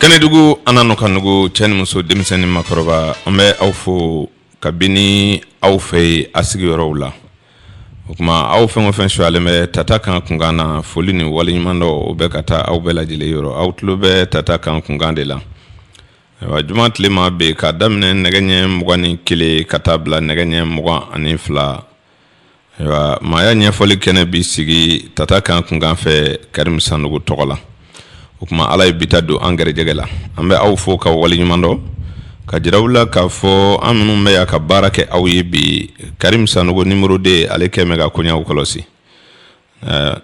kɛnɛdugu an na ka nugu cɛ ni muso denmisɛn ni makɔrɔba an bɛ aw fo kabini aw fɛ yen a sigiyɔrɔw la o tuma aw fɛn o fɛn suyalen bɛ tata kan kunkan na foli ni waleɲumandɔn o bɛ ka taa aw bɛɛ lajɛlen yɔrɔ aw tulo bɛ tata kan kunkan de la ayiwa juma tilema bɛ k'a daminɛ nɛgɛ ɲɛ mugan ni kelen ka taa bila nɛgɛ ɲɛ mugan ani fila ayiwa maaya ɲɛfɔli kɛnɛ bi sigi tata kan kunkan fɛ karimu sanɔgɔ tɔgɔ la o tuma ala ye bi ta don an gɛrɛjɛgɛ la an bɛ aw fo k'aw waleɲumandɔn k'a jira aw la k'a fɔ an minnu bɛ yan ka baara kɛ aw ye bi karimu sanɔgɔ nimɔrɔ de ale kɛ mɛn ka koɲaw kɔlɔsi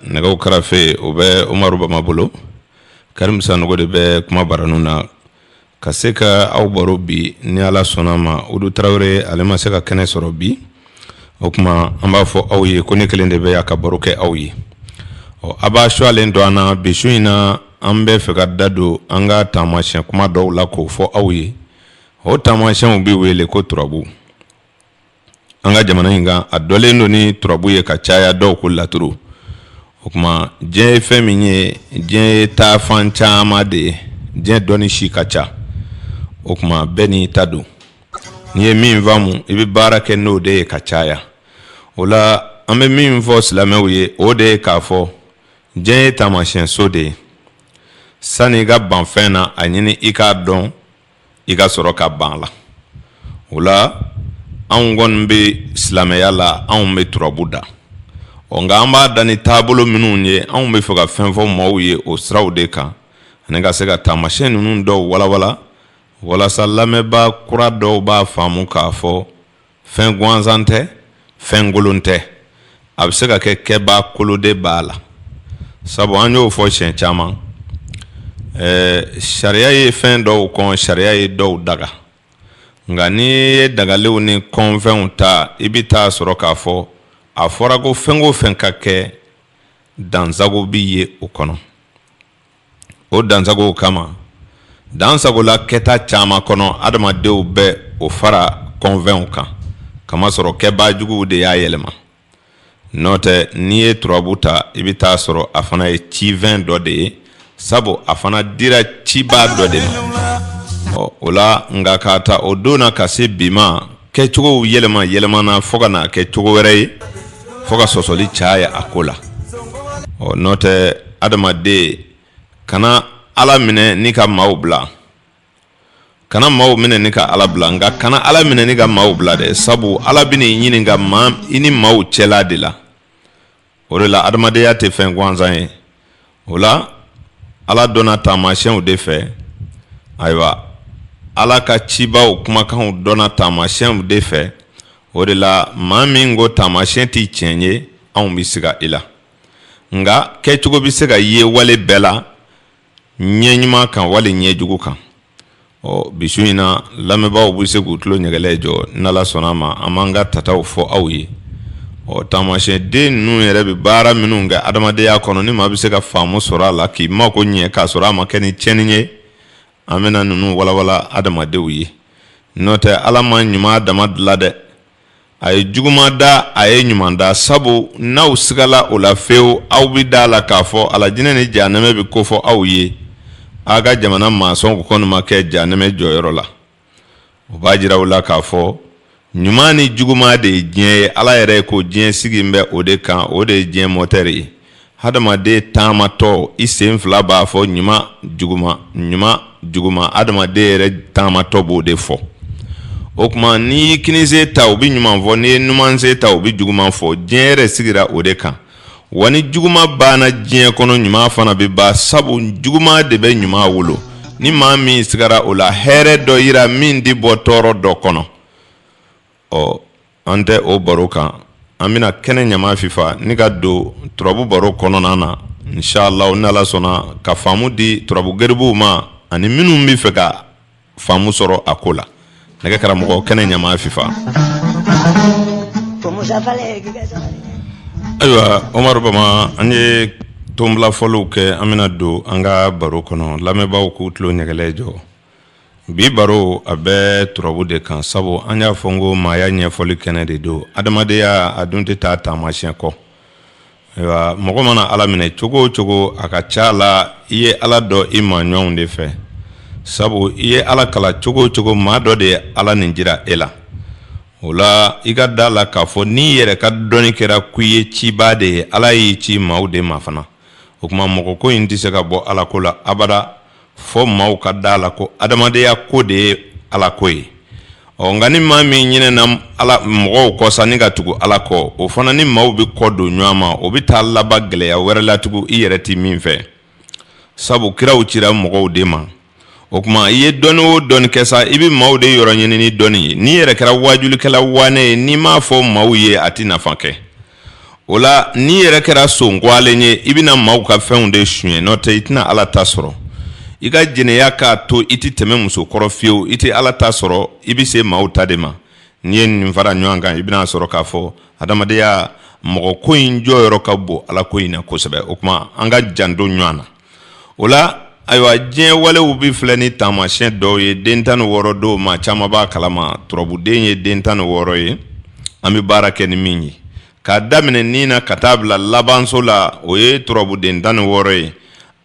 nɛgɛw karafe o bɛ umaru bama bolo karimu sanɔgɔ de bɛ kuma baranin na ka se ka aw baro bi ni ala sɔnna ma awudu tarawele ale ma se ka kɛnɛ sɔrɔ bi o tuma an b'a fɔ aw ye ko ne kelen de bɛ yan ka baro kɛ aw ye ɔ a b'a suyalen don an na bi su in na an bɛ fɛ ka da don an ka taamasiyɛn kuma dɔw la k'o fɔ aw ye o taamasiyɛnw bɛ wele ko turabu an ka jamana in kan a dɔnlen don ni turabu ye ka caya dɔw ko laturu o tuma diɲɛ ye fɛn min ye diɲɛ ye taafan caman de ye diɲɛ dɔnni si ka ca o tuma bɛɛ n'i ta don n'i ye min faamu i bɛ baara kɛ n'o de ye ka caya o la an bɛ min fɔ silamɛw ye o de ye k'a fɔ diɲɛ ye taamasiyɛnso de ye sani i ka ban fɛn na a ɲini i k'a dɔn i ka sɔrɔ ka ban a la o la anw kɔni bɛ silamɛya la anw bɛ turabu da ɔ nka an b'a da ni taabolo minnu ye anw bɛ fɛ ka fɛn fɔ maaw ye o siraw de kan ani ka se ka taamasiyɛn ninnu dɔw walawala walasa lamɛnbaa kura dɔw b'a faamu k'a fɔ fɛn gansan tɛ fɛn kolon tɛ a bɛ se ka kɛ kɛbaa kolon de b'a la sabu an y'o fɔ siɲɛ caman ɛɛ sariya ye fɛn dɔw kɔn sariya ye dɔw daga nka n'i ye dagalenw ni kɔnfɛnw ta i bɛ taa sɔrɔ k'a fɔ a fɔra ko fɛn o fɛn ka kɛ dansago bɛ ye o kɔnɔ o dansago kama dansagola kɛta caman kɔnɔ adamadenw bɛ o fara kɔnfɛnw kan k'a masɔrɔ kɛbaajuguw de y'a yɛlɛma nɔntɛ n'i ye turabu ta i bɛ taa sɔrɔ a fana ye cifɛn dɔ de ye sabu a fana dira cibaa dɔ de ma ɔ o la nka k'a ta o don na ka se bi ma kɛcogow yɛlɛma yɛlɛmana fo ka na kɛ cogo wɛrɛ ye fo ka sɔsɔli caya a ko la ɔ nɔntɛ adamaden kana ala minɛ ni ka maaw bila kana maaw minɛ ni ka ala bila nka kana ala minɛ ni ka maaw bila dɛ sabu ala bɛn'i ɲininka maa i ni maaw cɛla de la o de la adamadenya tɛ fɛn gansan ye o la ala dɔnna taamasiɲɛw de fɛ ayiwa ala ka cibaw kumakanw dɔnna taamasiɲɛw de fɛ o de la maa min ko taamasiɲɛ tɛ tiɲɛ ye anw bɛ siga i la nka kɛcogo bɛ se ka ye wale bɛɛ la ɲɛ ɲuman kan wali ɲɛjugu kan ɔ bi su in na lamɛnbaaw bɛ se k'u tulo ɲɛgɛlɛ jɔ n'ala sɔnna a ma an b'an ka tataw fɔ aw ye ɔ taamasiɲɛden ninnu yɛrɛ bɛ baara minnu kɛ adamadenya kɔnɔ ni maa bɛ se ka faamu sɔrɔ a la k'i mako ɲɛ k'a sɔrɔ a ma kɛ ni tiɲɛni ye an bɛna ninnu walawala adamadenw ye n'o tɛ ala ma ɲuman dama dilan dɛ a ye juguma da a ye ɲuman da sabu n'aw sigala o la fewu aw bɛ da a la k'a fɔ alajinɛ ni jahanɛmɛ bɛ kofɔ aw ye aw ka jamana mansɔnw kɔni ma kɛ jahanɛmɛ jɔyɔrɔ la o b'a jira u la k'a fɔ ɲuman ni juguma de ye diɲɛ ye ala yɛrɛ ko diɲɛ sigilen bɛ o de kan o de ye diɲɛ mɔtɛri ye Adamaden taamatɔ i sen fila b'a fɔ ɲuman juguman ɲuman juguman adamaden yɛrɛ taamatɔ b'o de fɔ o tuma n'i y'i kininsen ta o bɛ ɲuman fɔ n'i ye numansen ta o bɛ juguman fɔ diɲɛ yɛrɛ sigira o de kan wa ni juguman banna diɲɛ kɔnɔ ɲuman fana bɛ ban sabu juguman de bɛ ɲuman wolo ni maa min sigara o la hɛrɛ dɔ yira min tɛ bɔ tɔɔrɔ dɔ kɔnɔ ɔ an tɛ o baro kan an bɛna kɛnɛ ɲama fifa ni ka don turabu baro kɔnɔna na inshalahu ni ala sɔnna ka faamu di turabu garibuw ma ani minnu bɛ fɛ ka faamu sɔrɔ a ko la ne ka karamɔgɔ kɛnɛ ɲama fifa ayiwa omari bama an ye tonbila foliw kɛ an bɛna don an ka baro kɔnɔ lamɛnbaaw k'u tulo ɲɛgɛlɛ jɔ bi baro a bɛ turabu de kan sabu an y'a fɔ n ko maaya ɲɛfɔli kɛnɛ de don adamadenya a dun tɛ taa taamasiɲɛ kɔ ayiwa mɔgɔ mana ala minɛ cogo o cogo a ka ca la i ye ala dɔn i maaɲɔgɔnw de fɛ sabu i ye ala kalan cogo o cogo maa dɔ de ye ala nin jira e la o la i ka da la k'a fɔ n'i yɛrɛ ka dɔnni kɛra ko i ye cibaa de ye ala y'i ci maaw de ma fana o tuma mɔgɔ ko in tɛ se ka bɔ alako la abada fɔ maaw ka da la ko adamadenya ko de ye ala ko ye ɔ nka ni maa min ɲinɛna ala mɔgɔw kɔ sa ni ka tugu ala kɔ o fana ni maaw bɛ kɔ don ɲɔgɔn ma o bɛ taa laban gɛlɛya wɛrɛ la tugun i yɛrɛ tɛ min fɛ sabu kiraw cira mɔgɔw de ma o tuma i ye dɔnni o dɔnni kɛ sa i bɛ maaw de yɔrɔ ɲini ni dɔnni ye n'i yɛrɛ kɛra wajulikɛla waanɛ ye n'i m'a fɔ maaw ye a tɛ nafa kɛ o la n'i yɛrɛ kɛra son kɔgɔlen ye i bɛna maaw ka fɛnw de suɲɛ n'o tɛ i tɛna ala ta sɔrɔ i ka jɛnɛya k'a to i tɛ tɛmɛ muso kɔrɔ fiyewu i tɛ ala ta sɔrɔ i bɛ se maaw ta de ma n'i ye nin fara ɲɔgɔn kan i bɛna sɔrɔ k'a fɔ adamadenya mɔgɔ ko in jɔyɔrɔ ka bon ala ko in na kosɛbɛ o tuma an ka janto ɲɔgɔn na o la ayiwa diɲɛ walew bɛ filɛ ni taamasiyɛn dɔw ye den tan ni wɔɔrɔ dɔw maa caman b'a kalama turabuden ye den tan ni wɔɔrɔ ye an bɛ baara kɛ ni min ye k'a daminɛ ni na ka taa bila labanso la o ye turabuden tan ni wɔɔrɔ ye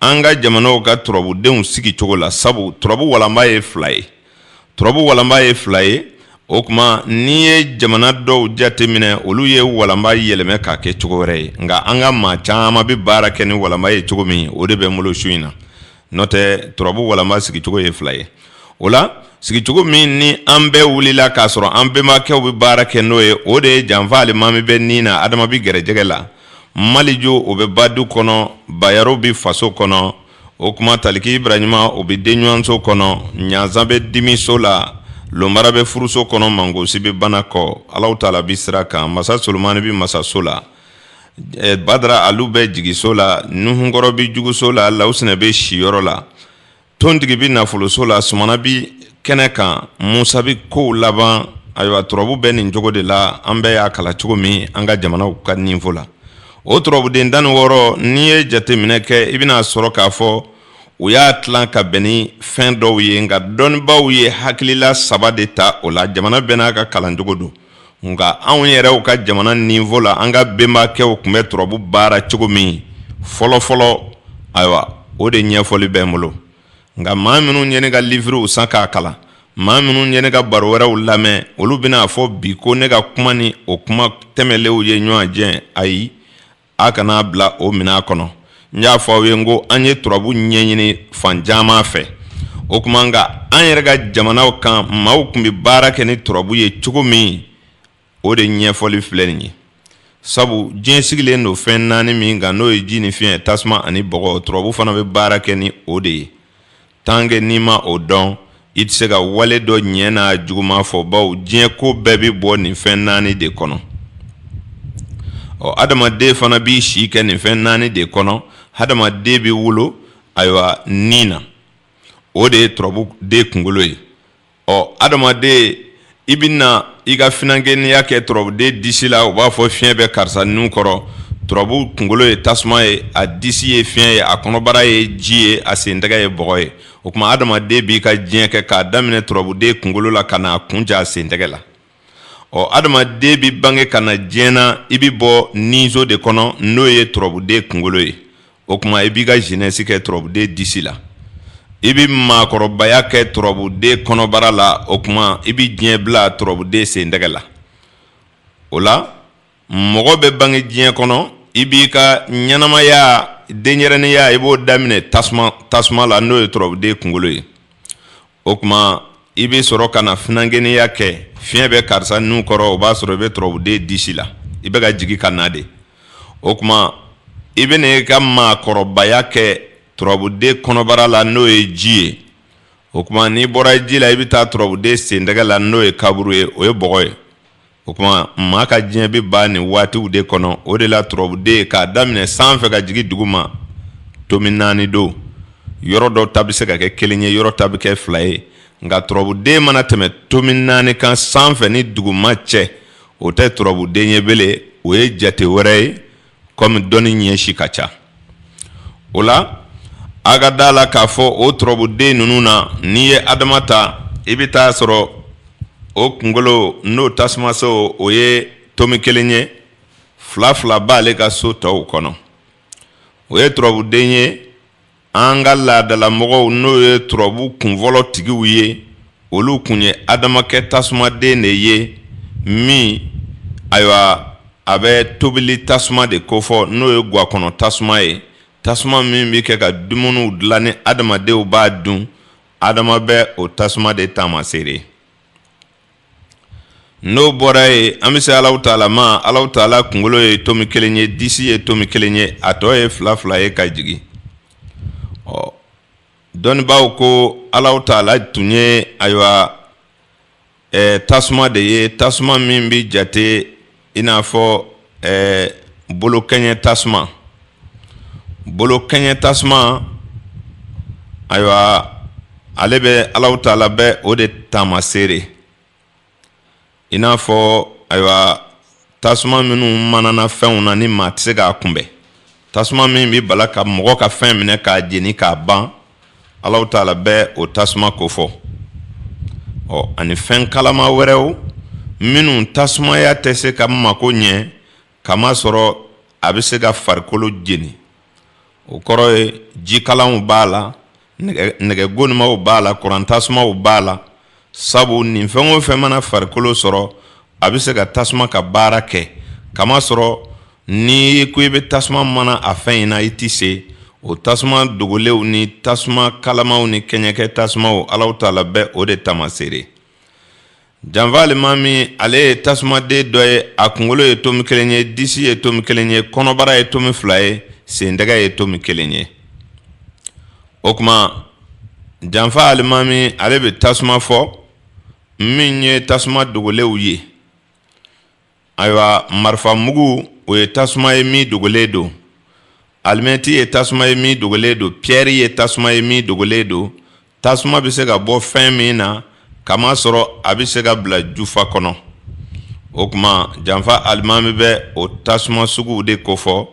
an ka jamanaw ka turabudenw sigi cogo la sabu turabu walanba ye fila ye turabu walanba ye fila ye o tuma n'i ye jamana dɔw jateminɛ olu ye walanba yɛlɛmɛ k'a kɛ cogo wɛrɛ ye nka an ka maa caman bɛ baara kɛ ni walanba ye cogo min o de bɛ n bolo su in na n'o tɛ turabu walanba sigicogo ye fila ye o la sigicogo min ni an bɛɛ wulila k'a sɔrɔ an bɛnbakɛw bɛ baara kɛ n'o ye o de ye janfa alimami bɛ ni na adama bɛ gɛrɛjɛgɛ la maliju o bɛ badu kɔnɔ bayaru bɛ faso kɔnɔ o tuma taliki ibrahima o bɛ denɲɔgɔnso kɔnɔ ɲanzan bɛ dimiso la lomara bɛ furuso kɔnɔ mangosi bɛ bana kɔ ala taala bɛ sira kan masa solomani bɛ masaso la badara ali bɛ jigiso la nuhunkɔrɔ bɛ juguso la lawusinɛ bɛ siyɔrɔ la tontigi bɛ nafoloso la sumana bɛ kɛnɛ kan musa bɛ kow laban ayiwa turabu bɛ nin cogo de la an bɛɛ y'a kalan cogo min an ka jamana ka niveau la o turabuden tan ni wɔɔrɔ n'i ye jateminɛ kɛ i bɛna sɔrɔ k'a fɔ u y'a tilan ka bɛn ni fɛn dɔw ye nka dɔnnibaaw ye hakilila saba de ta o la jamana bɛɛ n'a ka kalancogo don nka anw yɛrɛw ka jamana niveau la an ka bɛnbakɛw tun bɛ turabu baara cogo min fɔlɔfɔlɔ ayiwa o de ɲɛfɔli bɛ n bolo nka maa minnu ye ne ka livruw san k'a kalan maa minnu ye ne ka baro wɛrɛw lamɛn olu bɛna a fɔ bi ko ne ka kuma ni o kuma tɛmɛnlenw ye ɲɔgɔn jɛn ayi a kan'a bila o minɛn kɔnɔ n y'a fɔ aw ye n ko an ye turabu ɲɛɲini fan caman fɛ o tuma nka an yɛrɛ ka jamanaw kan maaw tun bɛ baara kɛ ni turabu ye cogo min o de ɲɛfɔli filɛ nin ye sabu diɲɛ sigilen don fɛn naani min kan n'o ye ji ni fiɲɛ tasuma ani bɔgɔ turabu fana bɛ baara kɛ ni o de ye tant que n'i ma o dɔn i tɛ se ka wale dɔ ɲɛ n'a juguman fɔ bawo diɲɛ ko bɛɛ bɛ bɔ nin fɛn naani de kɔnɔ ɔ adamaden fana b'i si kɛ nin fɛn naani de kɔnɔ adamaden bɛ wolo ayiwa ni na o de ye turabuden kunkolo ye ɔ adamaden i bɛ na i ka finankɛniya kɛ turabuden disi la u b'a fɔ fiɲɛ bɛ karisa nun kɔrɔ turabu kunkolo ye tasuma ye a disi ye fiɲɛ ye a kɔnɔbara ye ji ye a sentɛgɛ ye bɔgɔ ye o tuma adamaden b'i ka diɲɛ kɛ k'a daminɛ turabuden kunkolo la ka n'a kuncɛ a sentɛgɛ la ɔ adamaden bɛ bange ka na diɲɛ na i bɛ bɔ ninso de kɔnɔ n'o ye turabuden kunkolo ye o tuma i b'i ka jeunesse kɛ turabuden disi la i bɛ maakɔrɔbaya kɛ turabuden kɔnɔbara la o tuma i bɛ diɲɛ bila turabuden sentɛgɛ la o la mɔgɔ bɛ bange diɲɛ kɔnɔ i b'i ka ɲɛnamaya denyɛrɛninya i b'o daminɛ tasuma la n'o ye turabuden kunkolo ye o tuma i bɛ sɔrɔ ka na finankɛninya kɛ fiɲɛ bɛ karisa nun kɔrɔ o b'a sɔrɔ i bɛ turabuden disi la i bɛ ka jigin ka na de o tuma i bɛ n'i ka maakɔrɔbaya kɛ turabuden kɔnɔbara la n'o ye ji ye o tuma n'i bɔra ji la i bɛ taa turabuden sentɛgɛ la n'o ye kaburu ye o ye bɔgɔ ye O tuma maa ka diɲɛ bɛ ban nin waatiw de kɔnɔ o de la turabuden k'a daminɛ san fɛ ka jigin duguma tomi naani don yɔrɔ dɔ ta bɛ se ka kɛ kelen ye yɔrɔ ta bɛ kɛ fila ye nka turabuden mana tɛmɛ tomi naani kan sanfɛ ni duguma cɛ o tɛ turabuden ye bilen o ye jate wɛrɛ ye kɔmi dɔnni ɲɛ si ka ca o la a ka da la k'a fɔ o turabuden ninnu na n'i ye adama ta i bɛ t'a sɔrɔ o kunkolo n'o tasumaso o ye tomi kelen ye fila fila b'ale ka so tɔw kɔnɔ o ye turabuden ye An ka laadalamɔgɔw n'o ye turabu kunfɔlɔ tigiw ye olu kun ye adama kɛ tasumaden de ye min ayiwa a bɛ tobili tasuma de kofɔ n'o ye ga kɔnɔ tasuma ye tasuma min bɛ kɛ ka dumuniw dilan ni adamadenw b'a dun adama bɛ o tasuma de taamaseere n'o bɔra ye an bɛ se alahu taala ma alahu taala kunkolo ye tomi kelen ye disi ye tomi kelen ye a tɔ ye fila fila ye ka jigin ɔ dɔnnibaaw ko alahu taala tun ye ayiwa tasuma de ye tasuma min bɛ jate i n'a fɔ ɛɛ bolo kɛɲɛ tasuma bolo kɛɲɛ tasuma ayiwa ale bɛ alahu taala bɛ o de taamaseere i n'a fɔ ayiwa tasuma minnu manana fɛnw na ni maa tɛ se k'a kunbɛn tasuma min bɛ bala ka mɔgɔ ka fɛn minɛ k'a jeni k'a ban alahu taala bɛ o tasuma kofɔ ɔ ani fɛn kalama wɛrɛw minnu tasumaya tɛ se ka mako ɲɛ kamasɔrɔ a bɛ se ka farikolo jeni o kɔrɔ ye jikalanw b'a la nɛgɛ gonimaw b'a la kuran tasumaw b'a la sabu nin fɛn o fɛn mana farikolo sɔrɔ a bɛ se ka tasuma ka baara kɛ kamasɔrɔ ni ko i bɛ tasuma mana a fɛn in na i tɛ se o tasuma dogolenw ni tasuma kalamaw ni kɛɲɛkɛ tasumaw alahu taala bɛ o de taamaseere janfa alimami ale ye tasumaden dɔ ye a kunkolo ye tomi kelen ye disi ye tomi kelen ye kɔnɔbara ye tomi fila ye sen tɛgɛ ye tomi kelen ye o kuma janfa alimami ale bɛ tasuma fɔ min ye tasuma dogolenw ye ayiwa marifa mugu o ye tasuma ye min dogolen don alimɛti ye tasuma ye min dogolen don piyɛri ye tasuma ye min dogolen don tasuma bɛ se ka bɔ fɛn min na k'a masɔrɔ a bɛ se ka bila jufa kɔnɔ o kuma janfa alimami bɛ o tasuma suguw de kofɔ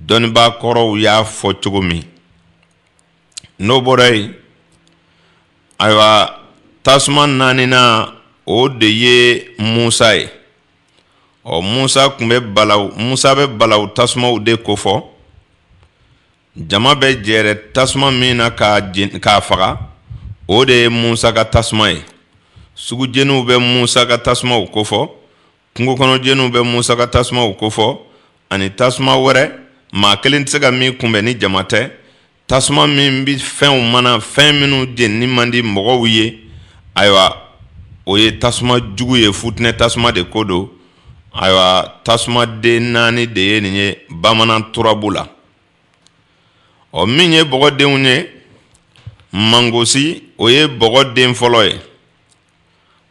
dɔnnibaa kɔrɔw y'a fɔ cogo min n'o bɔra yen ayiwa tasuma naaninan o de ye musa ye ɔ musa tun bɛ bala musa bɛ balawu tasumaw de kofɔ jama bɛ jɛrɛ tasuma min na k'a faga o de ye musa ka tasuma ye sugujeniw bɛ musa ka tasumaw kofɔ kungo kɔnɔ jeniw bɛ musa ka tasumaw kofɔ ani tasuma wɛrɛ maa kelen tɛ se ka min kunbɛn ni jama tɛ tasuma min bɛ fɛnw mana fɛn minnu jeni man di mɔgɔw ye ayiwa o ye tasuma jugu ye futinɛ tasuma de ko don ayiwa tasumaden naani de ye nin ye bamanan turabu la ɔ min ye bɔgɔdenw ye mangosi o ye bɔgɔden fɔlɔ ye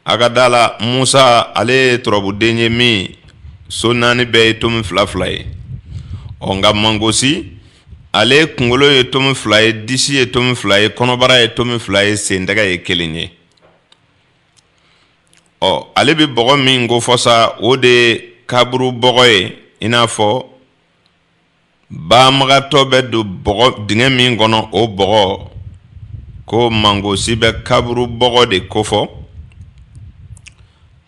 A ka da la musa ale ye turabuden ye min so naani bɛɛ ye tomi fila fila ye ɔ nka mangosi ale kunkolo ye tomi fila ye disi ye tomi fila ye kɔnɔbara ye tomi fila ye sen tɛgɛ ye kelen ye ɔ ale bɛ bɔgɔ min kofɔ sa o de ye kaburu bɔgɔ ye i n'a fɔ banbagatɔ bɛ don bɔgɔ dingɛ min kɔnɔ o bɔgɔ ko mangosi bɛ kaburu bɔgɔ de kofɔ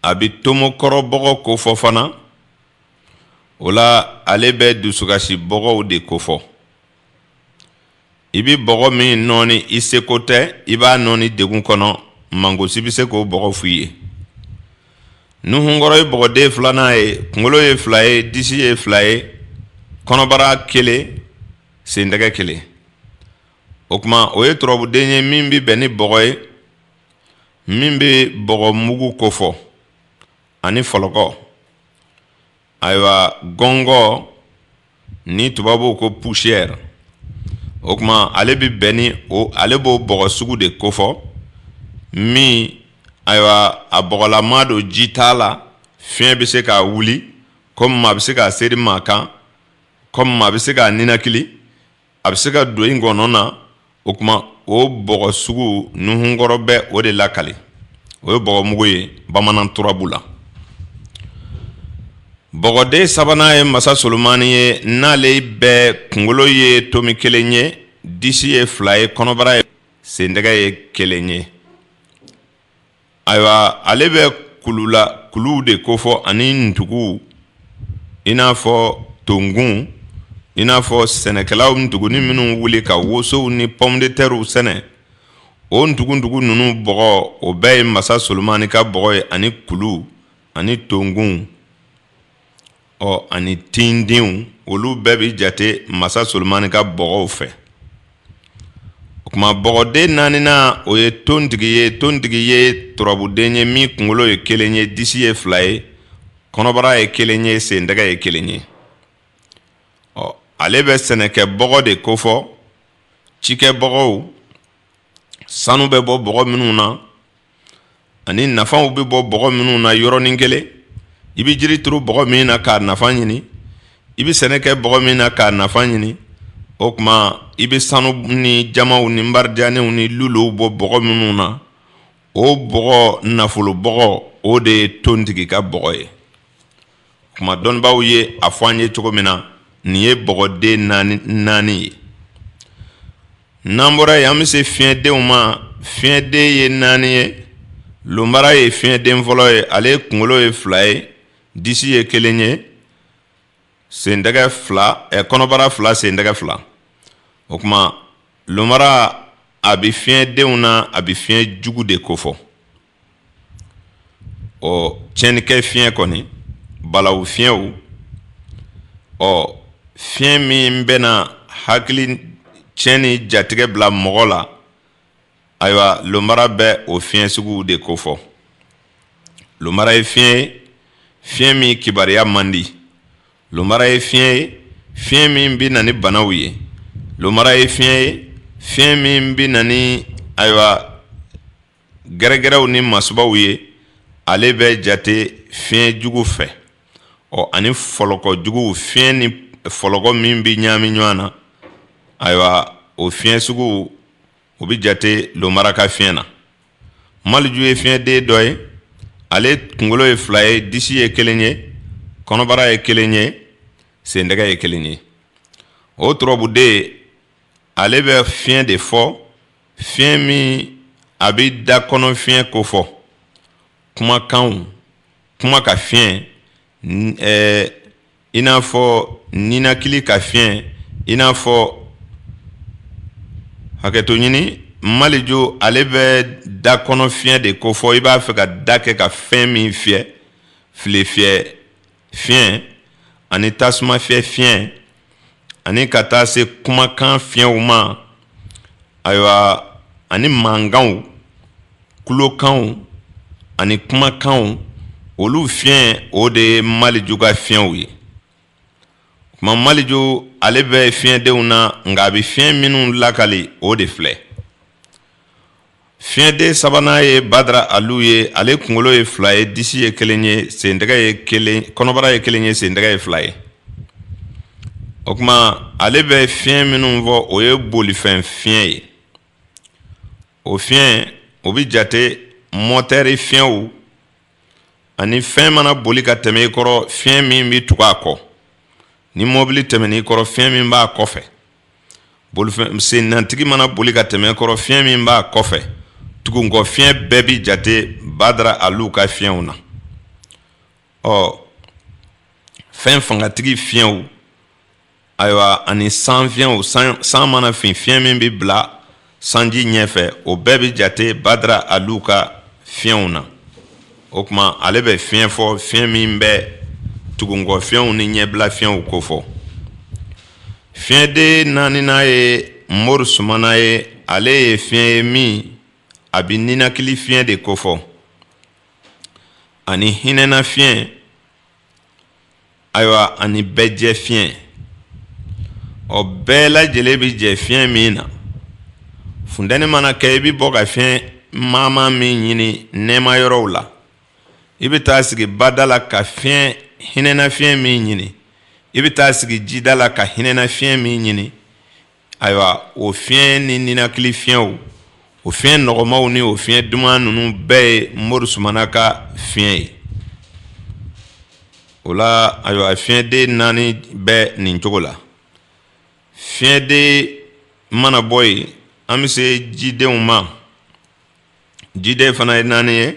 a bɛ tomo kɔrɔ bɔgɔ kofɔ fana o la ale bɛ dusukasi bɔgɔw de kofɔ i bɛ bɔgɔ min nɔɔni i seko tɛ i b'a nɔɔni degun kɔnɔ mangosi bɛ se k'o bɔgɔ f'i ye nuhunkɔrɔ ye bɔgɔden filanan ye kunkolo ye fila ye disi ye fila ye kɔnɔbara kelen sen tɛgɛ kelen o kuma o ye turabuden ye min bɛ bɛn ni bɔgɔ ye min bɛ bɔgɔ mugu kofɔ ani fɔlɔkɔ ayiwa gɔngɔ ni tubabuw ko poussière o kuma ale bɛ bɛn ni ale b'o bɔgɔ sugu de kofɔ min ayiwa a bɔgɔlama don ji t'a la fiɲɛ bɛ se k'a wuli komi maa bɛ se k'a seri maa kan komi maa bɛ se k'a ninakili a bɛ se ka don i ngɔnɔ na o kuma o bɔgɔ sugu nuhunkɔrɔ bɛ o de lakali o ye bɔgɔmugu ye bamanan turabu la bɔgɔden sabanan ye masa solomani ye n'ale bɛ kunkolo ye tomi kelen ye disi ye fila ye kɔnɔbara ye sentɛgɛ ye kelen ye ayiwa ale bɛ kulula kuluw de kofɔ ani ntugu i n'a fɔ tonkun i n'a fɔ sɛnɛkɛlaw ntuguni minnu wuli ka wosow ni pomme de terre sɛnɛ o ntugu ninnu bɔgɔ o bɛɛ ye masa Solomani ka bɔgɔ ye ani kulu ani tonkun ɔ ani tindenw olu bɛɛ bɛ jate masa solomani ka bɔgɔw fɛ o kuma bɔgɔden naaninan o ye tontigi ye tontigi ye turabuden ye min kunkolo ye kelen ye disi ye fila ye kɔnɔbara ye kelen ye sentɛgɛ ye kelen ye ɔ ale bɛ sɛnɛkɛ bɔgɔ de kofɔ cikɛ bɔgɔw sanu bɛ bɔ bɔgɔ minnu na ani nafaw bɛ bɔ bɔgɔ minnu na yɔrɔnin kelen i bɛ jiri turu bɔgɔ min na k'a nafa ɲini i bɛ sɛnɛ kɛ bɔgɔ min na k'a nafa ɲini o kuma i bɛ sanu ni jamaw ni marijanw ni luluw bɔ bɔgɔ minnu na o bɔgɔ nafolo bɔgɔ o de ye tontigi ka bɔgɔ ye kuma dɔnnibaaw ye a fɔ an ye cogo min na nin ye bɔgɔden naani ye n'an bɔra yen an bɛ se fiɲɛdenw ma fiɲɛden ye naani ye lonbara ye fiɲɛden fɔlɔ ye ale kunkolo ye fila ye disi ye kelen ye sentɛgɛ fila ɛ kɔnɔbara fila sentɛgɛ fila o kuma lonbara a bɛ fiɲɛdenw na a bɛ fiɲɛ jugu de kofɔ ɔ tiɲɛnikɛ fiɲɛ kɔni balawu fiɲɛw ɔ fiɲɛ min bɛna hakilitiɲɛ ni jatigɛ bila mɔgɔ la ayiwa lomara bɛ o fiɲɛ sugu de kofɔ lomara ye fiɲɛ ye fiɲɛ min kibariya man di lomara ye fiɲɛ ye fiɲɛ min bɛ na ni banaw ye lomara ye fiɲɛ ye fiɲɛ min bɛ na ni ayiwa gɛrɛgɛrɛw ni masibaw ye ale bɛ jate fiɲɛ jugu fɛ ɔ ani fɔlɔkɔ jugu fiɲɛ ni fɔlɔkɔ min bɛ ɲaami ɲɔgɔn na ayiwa o fiɲɛ sugu o bɛ jate lomara ka fiɲɛ na maliju ye fiɲɛden dɔ ye ale kunkolo ye fila ye disi ye kelen ye kɔnɔbara ye kelen ye sentɛgɛ ye kelen ye o turabuden ale bɛ fiɲɛ de fɔ fiɲɛ min a bɛ da kɔnɔ fiɲɛ ko fɔ kumakanw kuma ka fiɲɛ i n'a fɔ ninakili ka fiɲɛ i n'a fɔ hakɛto ɲini maliju ale bɛ da kɔnɔ fiɲɛ de ko fɔ i b'a fɛ ka da kɛ ka fɛn min fiyɛ file fiyɛ fiɲɛ ani tasuma fiyɛ fiɲɛ ani ka taa se kumakan fiɲɛw ma ayiwa ani mankanw kulokanw ani kumakanw olu fiɲɛ o de ye maliju ka fiɲɛw ye o kuma maliju ale bɛ fiɲɛdenw na nka a bɛ fiɲɛ minnu lakali o de filɛ Fiɲɛden sabanan ye badara alu ye ale kunkolo ye fila ye disi ye kelen ye sen ye kɔnɔbara ye kelen ye sentɛgɛ ye fila ye o kuma ale bɛ fiɲɛ minnu fɔ o ye bolifɛn fiɲɛ ye o fiɲɛ o bɛ jate mɔtɛri fiɲɛw ani fɛn mana boli ka tɛmɛ i kɔrɔ fiɲɛ min bɛ tugu a kɔ ni mɔbili tɛmɛn'i kɔrɔ fiɲɛ min b'a kɔfɛ sennatigi mana boli ka tɛmɛ i kɔrɔ fiɲɛ min b'a kɔfɛ tugunkɔ fiɲɛ bɛɛ bɛ jate badara alu ka fiɲɛw na ɔ fɛn fangatigi fiɲɛw ayiwa ani san fiɲɛ san mana fin fiɲɛ min bɛ bila sanji ɲɛfɛ o bɛɛ bɛ jate badara alu ka fiɲɛw na o kuma ale bɛ fiɲɛ fɔ fiɲɛ min bɛ tugunkɔ fiɲɛw ni ɲɛbila fiɲɛw ko fɔ fiɲɛden naaninan ye mori sumana ye ale ye fiɲɛ ye min a bɛ ninakili fiɲɛ de ko fɔ ani hinɛna fiɲɛ ayiwa ani bɛɛ jɛ fiɲɛ ɔ bɛɛ lajɛlen bɛ jɛ fiɲɛ min na funtɛni mana kɛ i bɛ bɔ ka fiɲɛ maama min ɲini nɛɛma yɔrɔw la i bɛ taa sigi bada la ka fiɲɛ hinɛna fiɲɛ min ɲini i bɛ taa sigi jida la ka hinɛna fiɲɛ min ɲini ayiwa o fiɲɛ ni ninakili fiɲɛw o fiɲɛ nɔgɔmaw ni o fiɲɛ duman ninnu bɛɛ ye mori sumana ka fiɲɛ ye o la ayiwa fiɲɛden naani bɛ nin cogo la fiɲɛden mana bɔ yen an bɛ se jidenw ma jiden fana ye naani ye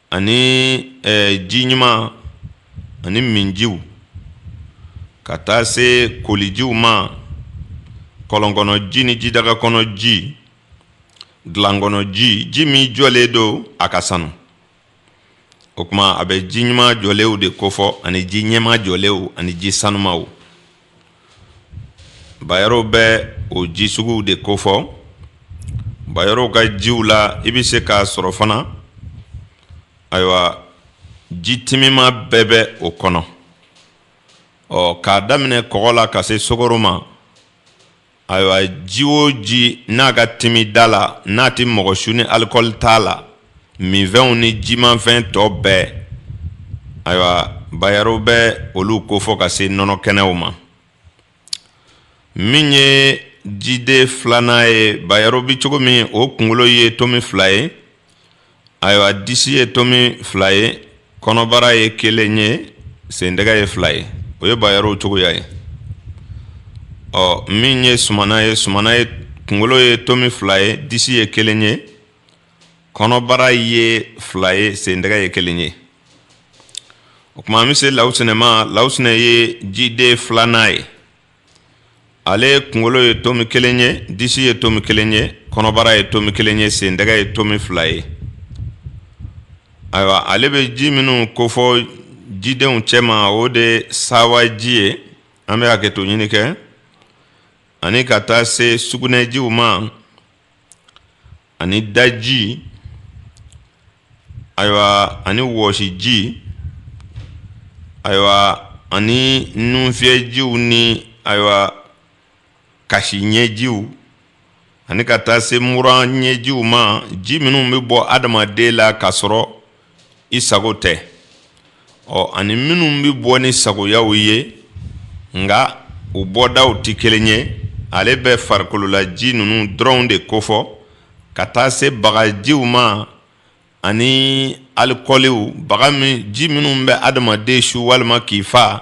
ani ji ɲuman ani minjiw ka taa se kolijiw ma kɔlɔn kɔnɔ ji ni jidaga kɔnɔ ji dilan kɔnɔ ji ji min jɔlen don a ka sanu o kuma a bɛ ji ɲuman jɔlenw de kofɔ ani ji ɲɛma jɔlenw ani ji sanumaw Bayɔrɔw bɛ o ji suguw de kofɔ bayɔrɔw ka jiw la i bɛ se k'a sɔrɔ fana ayiwa ji timima bɛɛ bɛ o kɔnɔ ɔ k'a daminɛ kɔgɔ la ka se sukaro ma ayiwa ji o ji n'a ka timi da la n'a tɛ mɔgɔ su ni alikɔli t'a la minfɛnw ni jimafɛn tɔ bɛɛ ayiwa bayɔrɔw bɛ olu kofɔ ka se nɔnɔ kɛnɛw ma min ye jiden filanan ye bayɔrɔ bɛ cogo min o kunkolo ye tomi fila ye ayiwa disi ye tomi fila ye kɔnɔbara ye kelen ye sendɛgɛ ye fila ye o ye bayɔrɔw cogoya ye ɔ min ye sumana ye sumana ye kunkolo ye tomi fila ye disi ye kelen ye kɔnɔbara ye fila ye sendɛgɛ ye kelen ye o kuma an bɛ se lawusinɛ ma lawusinɛ ye jiden filanan ye ale ye kunkolo ye tomi kelen ye disi ye tomi kelen ye kɔnɔbara ye tomi kelen ye sendɛgɛ ye tomi fila ye ayiwa ale bɛ ji minnu kofɔ jidenw cɛma o de sawaji ye an bɛ hakɛto ɲini kɛ ani ka taa se sugunɛjiw ma ani daji ayiwa ani wɔsiji ayiwa ani nunfiyɛjiw ni ayiwa kasi ɲɛjiw ani ka taa se mura ɲɛjiw ma ji minnu bɛ bɔ adamaden la ka sɔrɔ i sago tɛ ɔ ani minnu bɛ bɔ ni sagoyaw ye nka u bɔdaw tɛ kelen ye ale bɛ farikololaji ninnu dɔrɔnw de kofɔ ka taa se bagajiw ma ani alikɔliw baga ji minnu bɛ adamaden su walima k'i fa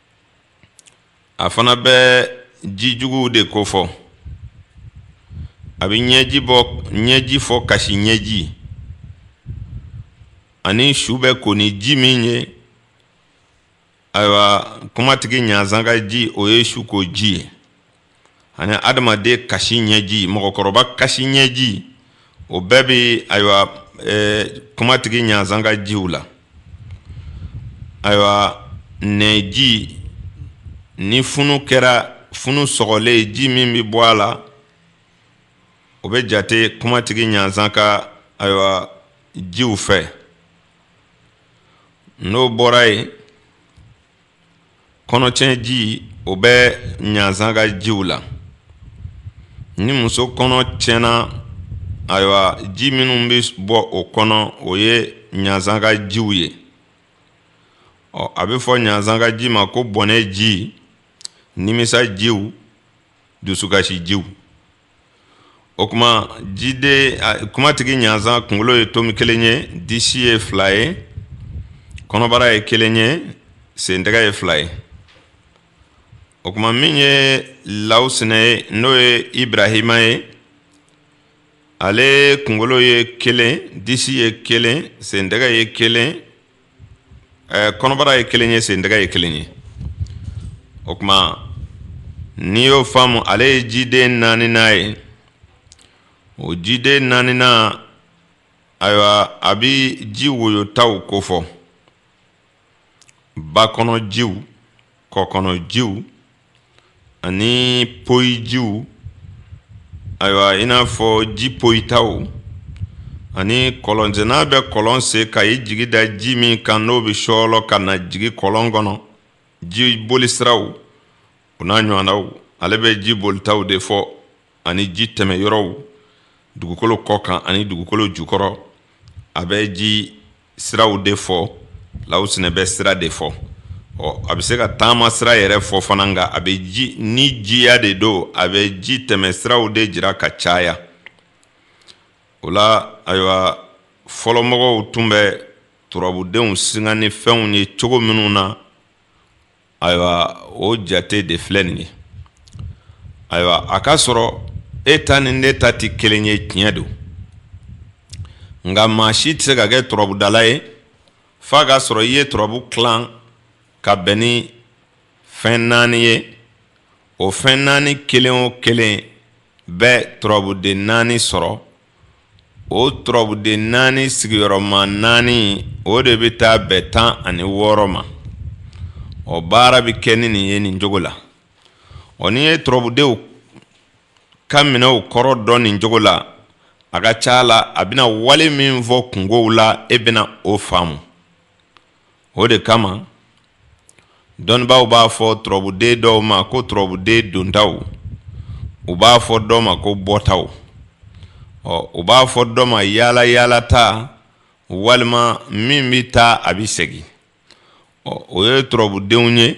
a fana bɛ ji juguw de kofɔ a bɛ ɲɛji bɔ ɲɛji fɔ kasi ɲɛji ani su bɛ ko ni ji min ye ayiwa kumatigi ɲanzan ka ji o ye su ko ji ye ani adamaden kasi ɲɛji mɔgɔkɔrɔba kasi ɲɛji o bɛɛ bɛ ayiwa kumatigi ɲanzan ka jiw la ayiwa nɛji ni funu kɛra funu sɔgɔlen ji min bɛ bɔ a la o bɛ jate kumatigi ɲanzan ka ayiwa jiw fɛ n'o bɔra yen kɔnɔtiɲɛ ji o bɛ ɲanzan ka jiw la ni muso kɔnɔ tiɲɛna ayiwa ji minnu bɛ bɔ o kɔnɔ o ye ɲanzan ka jiw ye ɔ a bɛ fɔ ɲanzan ka ji ma ko bɔnɛ ji nimisa jiw dusukasi jiw o kuma jiden kumatigi ɲanzan kunkolo ye tomi kelen ye disi ye fila ye kɔnɔbara ye kelen ye sentɛgɛ ye fila ye o kuma min ye lawusinɛ ye n'o ye ibarahima ye ale kunkolo ye kelen disi ye kelen sentɛgɛ ye kelen ɛɛ kɔnɔbara ye kelen ye sentɛgɛ ye kelen ye o kuma n'i y'o faamu ale ye jiden naaninan ye o jiden naaninan ayiwa a bɛ ji woyotaw kofɔ ba kɔnɔ jiw kɔ kɔnɔ jiw ani poyijiw ayiwa i n'a fɔ ji poyitaw ani kɔlɔnsenna bɛ kɔlɔn sen ka i jigi da ji min kan n'o bɛ sɔɔlɔ ka na jigi kɔlɔn kɔnɔ ji boli siraw u n'a ɲɔgɔnnaw ale bɛ ji bolitaw de fɔ ani ji tɛmɛ yɔrɔw dugukolo kɔ kan ani dugukolo jukɔrɔ a bɛ ji siraw de fɔ lawusinɛ bɛ sira de fɔ ɔ a bɛ se ka taama sira yɛrɛ fɔ fana nka a bɛ ji ni jiya de don a bɛ ji tɛmɛ siraw de jira ka caya o la ayiwa fɔlɔmɔgɔw tun bɛ turabudenw singa ni fɛnw ye cogo minnu na ayiwa o jate de filɛ nin ye ayiwa a ka sɔrɔ e ta ni ne ta tɛ kelen ye tiɲɛ don nka maa si tɛ se ka kɛ turabudala ye f'a k'a sɔrɔ i ye turabu tilan ka bɛn ni fɛn naani ye o fɛn naani kelen o kelen bɛ turabuden naani sɔrɔ o turabuden naani sigiyɔrɔma naani o de bɛ taa bɛn tan ani wɔɔrɔ ma o baara bɛ kɛ ni nin ye nin cogo la ɔ n'i ye turabudenw ka minɛw kɔrɔ dɔn nin cogo la a ka ca la a bɛna wale min fɔ kunkow la e bɛna o faamu o de kama dɔnnibaaw b'a fɔ turabuden dɔw ma ko turabuden dontaw u b'a fɔ dɔ ma ko bɔtaw ɔ u b'a fɔ dɔ ma yaalayaalata walima min bɛ taa a bɛ segin ɔ o ye turabudenw ye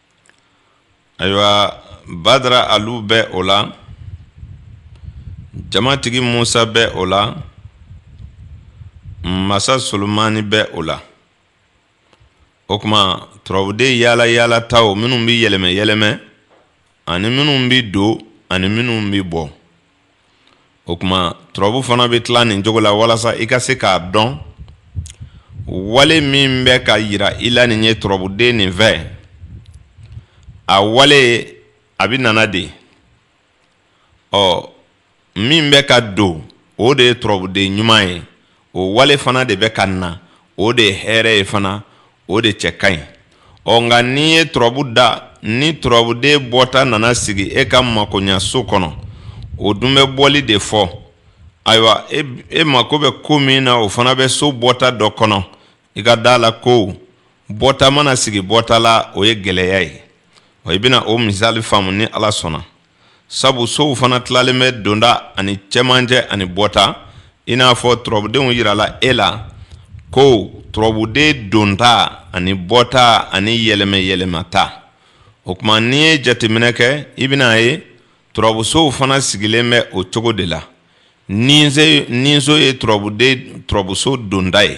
ayiwa badara alu bɛ o la jamatigi musa bɛ o la masa solomani bɛ o la o kuma turabuden yaala yaalataw minnu bɛ yɛlɛmɛ yɛlɛmɛ ani minnu bɛ don ani minnu bɛ bɔ o kuma turabu fana bɛ tila nin cogo la walasa i ka se k'a dɔn wale min bɛ ka yira i la nin ye turabuden nin fɛ a wale a bɛ nana de ye ɔ min bɛ ka don o de ye turabuden ɲuman ye o wale fana de bɛ ka na o de ye hɛrɛ ye fana o de cɛ ka ɲi ɔ nka n'i ye turabu da ni turabuden bɔta nana sigi e ka makoɲaso kɔnɔ o dun bɛ bɔli de fɔ ayiwa e mako bɛ ko min na o fana bɛ so bɔta dɔ kɔnɔ i ka da la ko bɔta mana sigi bɔta la o ye gɛlɛya ye i bɛna o misali faamu ni ala sɔnna sabu sow fana tilalen bɛ donta ani cɛmancɛ ani bɔta i n'a fɔ turabudenw yirala e la ko turabuden donta ani bɔta ani yɛlɛmɛ yɛlɛmata o kuma n'i ye jateminɛ kɛ i bɛna a ye turabusow fana sigilen bɛ o cogo de la niso ye turabuso donta ye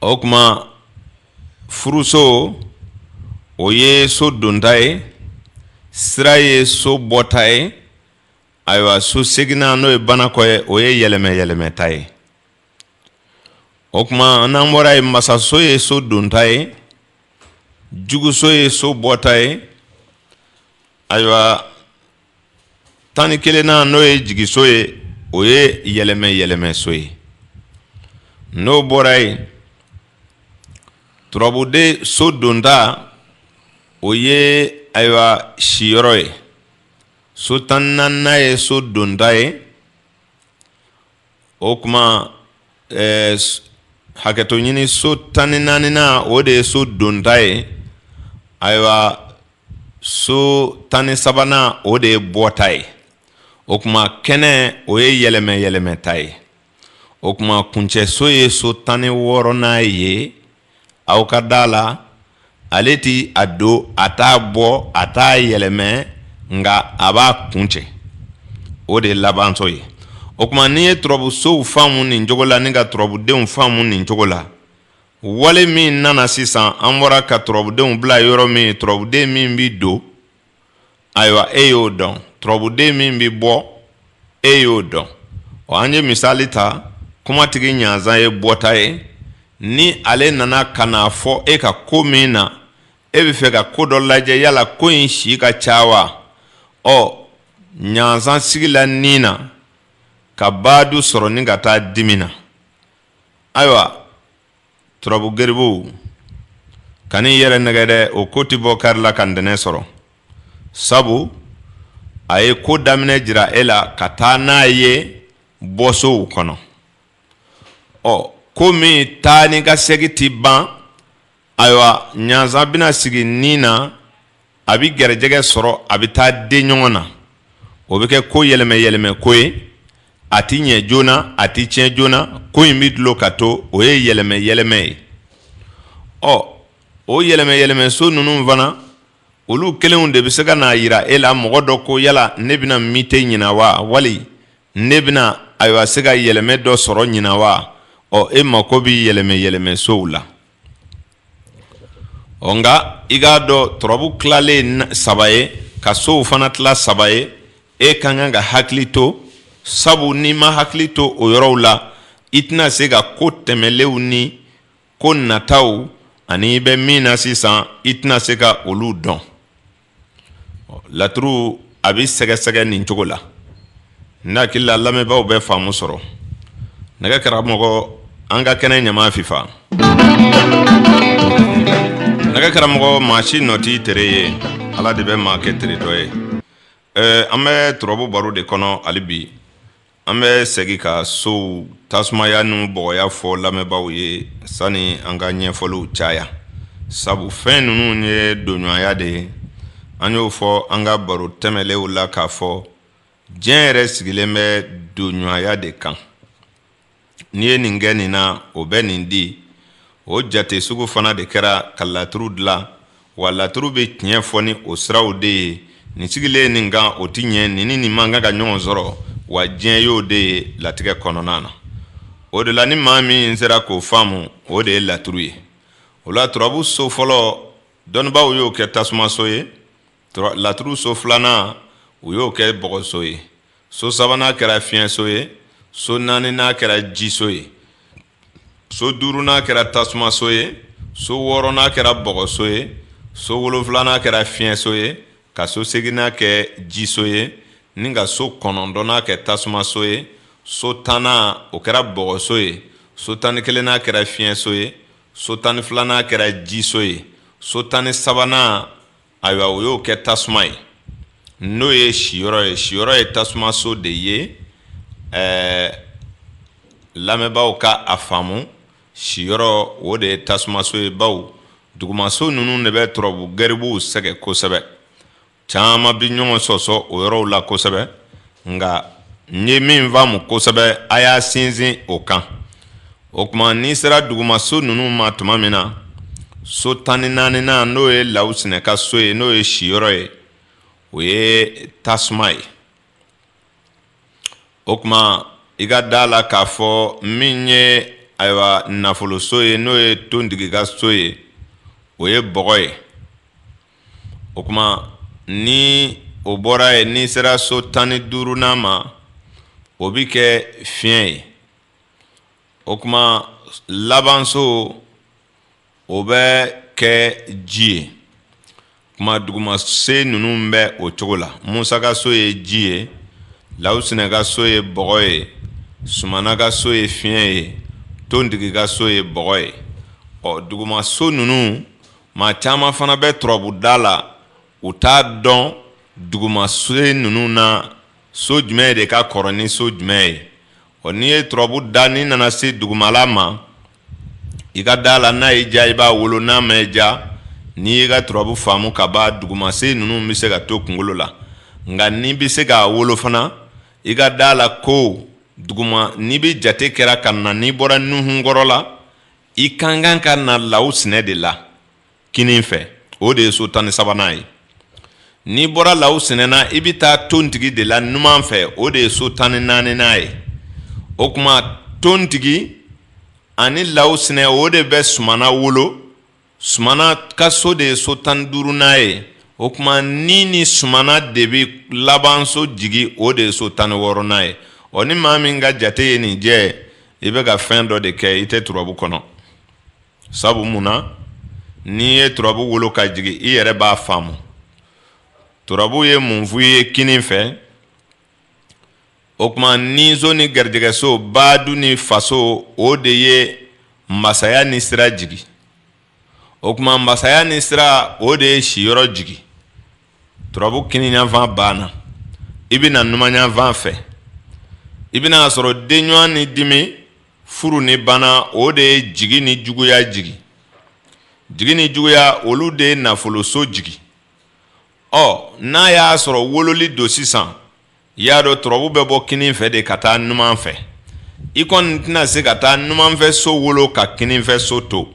o kuma furuso o ye so donta ye sira ye so bɔta ye ayiwa so seginnan n'o ye banakɔ ye o ye yɛlɛmɛ yɛlɛmɛta ye o kuma n'an bɔra yen masaso ye so donta ye juguso ye so bɔta ye ayiwa tan ni kelennan n'o ye jigiso ye o ye yɛlɛmɛ yɛlɛmɛso ye n'o bɔra yen turabuden so donta o ye ayiwa siyɔrɔ ye so tan ni naaninan ye so donta ye o kuma hakɛto ɲini so tan ni naaninan o de ye so donta ye ayiwa so tan ni sabanan o de ye bɔta ye o kuma kɛnɛ o ye yɛlɛmɛ yɛlɛmɛta ye o kuma kuncɛso ye so tan ni wɔɔrɔnan ye aw ka da la ale tɛ a don a t'a bɔ a t'a yɛlɛmɛ nka a b'a kuncɛ o de ye labanso ye o kuma n'i ye turabusow faamu nin cogo la ni ka turabudenw faamu nin cogo la wale min nana sisan an bɔra ka turabudenw bila yɔrɔ min turabuden min bɛ don ayiwa e y'o dɔn turabuden min bɛ bɔ e y'o dɔn ɔ an ye misali ta kumatigi ɲanzan ye bɔta ye ni ale nana ka n'a fɔ e ka ko min na e bɛ fɛ ka ko dɔ lajɛ yala ko in si ka ca wa ɔ ɲanzan sigila ni na ka baadu sɔrɔ ni ka taa dimi na ayiwa turabu garibuw kan'i yɛrɛ nɛgɛ dɛ o ko tɛ bɔ kari la ka ntɛnɛ sɔrɔ sabu a ye ko daminɛ jira e la ka taa n'a ye bɔsow kɔnɔ ɔ ko min taa ni ka segin tɛ ban ayiwa ɲanzan bɛna sigi ni na a bɛ garijɛgɛ sɔrɔ a bɛ taa den ɲɔgɔn na o bɛ kɛ ko yɛlɛmɛ yɛlɛmɛ ko ye a tɛ ɲɛ joona a tɛ tiɲɛ joona ko in bɛ dulon ka to o ye yɛlɛmɛ yɛlɛmɛ ye ɔ o yɛlɛmɛ yɛlɛmɛ so ninnu fana olu kelenw de bɛ se ka n'a yira e la mɔgɔ dɔ ko yala ne bɛna mite ɲinan wa wali ne bɛna ayiwa se ka yɛlɛmɛ dɔ sɔrɔ ɲinan wa ɔ e mako bɛ yɛlɛmɛ yɛlɛmɛ sow la Ɔ nka i k'a dɔn turabu tilalen saba ye ka sow fana tila saba ye e ka kan ka hakili to sabu n'i ma hakili to o yɔrɔw la i tɛna se ka ko tɛmɛlenw ni ko nataw ani i bɛ min na sisan i tɛna se ka olu dɔn laturu a bɛ sɛgɛsɛgɛ nin cogo la ne hakili la lamɛnbaaw bɛ faamu sɔrɔ nɛgɛ karamɔgɔ an ka kɛnɛ ɲama fifa nɛgɛ karamɔgɔ maa si nɔ t'i tere ye ala de bɛ maa kɛ tere dɔ ye an bɛ turabu baro de kɔnɔ hali bi An bɛ segin ka sow tasumaya ni bɔgɔya fɔ lamɛnbaaw ye sani an ka ɲɛfɔliw caya sabu fɛn ninnu ye donɲɔgɔnya de ye an y'o fɔ an ka baro tɛmɛnlenw la k'a fɔ diɲɛ yɛrɛ sigilen bɛ donɲɔgɔnya de kan n'i ye nin kɛ nin na o bɛ nin di o jate sugu fana de kɛra ka laturu dilan wa laturu bɛ tiɲɛ fɔ ni o siraw de ye nin sigilen nin kan o tɛ ɲɛ nin ni nin man kan ka ɲɔgɔn sɔrɔ wa diɲɛ y'o de ye latigɛ kɔnɔna na o de la ni maa min sera k'o faamu o de ye laturu ye o la turabu so fɔlɔ dɔnnibaaw y'o kɛ tasumaso ye laturu so filanan u y'o kɛ bɔgɔso ye so sabanan kɛra fiɲɛso ye so naaninan kɛra jiso ye so duurunan kɛra tasumaso ye so wɔɔrɔnan kɛra bɔgɔso ye so wolonfilanan kɛra fiɲɛso ye ka so seginnan kɛ jiso ye ni ka so kɔnɔntɔnnan kɛ tasumaso ye so tannan o kɛra bɔgɔso ye so tan ni kelennan kɛra fiɲɛso ye so tan ni filanan kɛra jiso ye so tan ni sabanan ayiwa o y'o kɛ tasuma ye n'o ye siyɔrɔ ye siyɔrɔ ye tasumaso de ye ɛɛ lamɛnbaaw ka a faamu siyɔrɔ o de ye tasumaso ye bawo dugumaso ninnu de bɛ turabu garibuw sɛgɛ kosɛbɛ caman bɛ ɲɔgɔn sɔsɔ o yɔrɔw la kosɛbɛ nka n ye min faamu kosɛbɛ a y'a sinsin o kan o tuma n'i sera dugumaso ninnu ma tuma min na so tan ni naaninan n'o ye lawsinɛ ka so ye n'o ye siyɔrɔ ye o ye tasuma ye o tuma i ka da la k'a fɔ min ye ayiwa nafoloso ye n'o ye tontigi ka so ye o ye bɔgɔ ye o tuma ni o bɔra ye n'i sera so tan ni duurunan ma o bɛ kɛ fiɲɛ ye o tuma labanso o bɛ kɛ ji ye tuma dugumasen ninnu bɛ o cogo la musa ka so ye ji ye lawsinɛ ka so ye bɔgɔ ye sumana ka so ye fiɲɛ ye tontigi ka so ye bɔgɔ ye ɔ dugumaso ninnu maa caman fana bɛ turabuda la u t'a dɔn dugumaso ninnu na so jumɛn de ka kɔrɔ ni so jumɛn ye Ɔ n'i ye turabu da n'i nana se dugumala ma i ka da la n'a y'i diya i b'a wolo n'a m'i diya n'i y'i ka turabu faamu ka ban dugumasen ninnu bɛ se ka to kunkolo la nka n'i bɛ se k'a wolo fana i ka da la ko duguma n'i bɛ jate kɛra ka na n'i bɔra nuhun kɔrɔ la i ka kan ka na lawsinɛ de la kinin fɛ o de ye so tan ni sabanan ye n'i bɔra lawsinɛ na i bɛ taa tontigi de la numan fɛ o de ye so tan ni naaninan ye o tuma tontigi ani lawsinɛ o de bɛ sumana wolo sumana ka so de ye so tan ni duurunan ye o tuma ni ni sumana de bɛ labanso jigi o de ye so tan ni wɔɔrɔnan ye ɔ ni maa min ka jate ye nin jɛ i bɛ ka fɛn dɔ de kɛ i tɛ turabu kɔnɔ sabu mun na n'i ye turabu wolo ka jigin i yɛrɛ b'a faamu turabu ye mun f'i ye kinin fɛ o tuma niso ni garijɛgɛso badu ni faso o de ye masaya ni sira jigin o tuma masaya ni sira o de ye siyɔrɔ jigin turabu kininyanfan banna i bɛ na numanyanfan fɛ i bɛn'a sɔrɔ denɲuman ni dimi furu ni bana o de ye jigi ni juguya jigin jigi ni juguya olu de ye nafoloso jigin ɔ n'a y'a sɔrɔ wololi don sisan i y'a dɔn turabu bɛ bɔ kinin fɛ de ka taa numan fɛ i kɔni tɛna se ka taa numanfɛ so wolo ka kininfɛ so to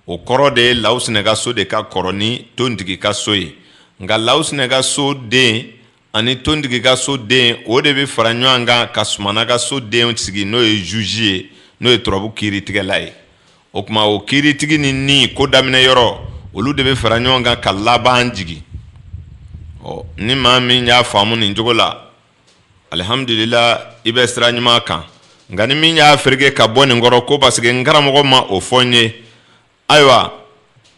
o kɔrɔ de ye lawusinɛ ka so de ka kɔrɔ ni tontigi ka so ye nka lawusinɛ ka so den ani tontigi ka so den o de bɛ fara ɲɔgɔn kan ka sumana ka so den sigi n'o ye zuzi ye n'o ye turabu kiiritigɛla ye o kuma o kiiritigi ni ni ko daminɛ yɔrɔ olu de bɛ fara ɲɔgɔn kan ka laban jigin ɔ ni maa min y'a faamu nin cogo la alihamdulila i bɛ sira ɲuman kan nka ni min y'a fereke ka bɔ nin kɔrɔ ko parce que n karamɔgɔ ma o fɔ n ye ayiwa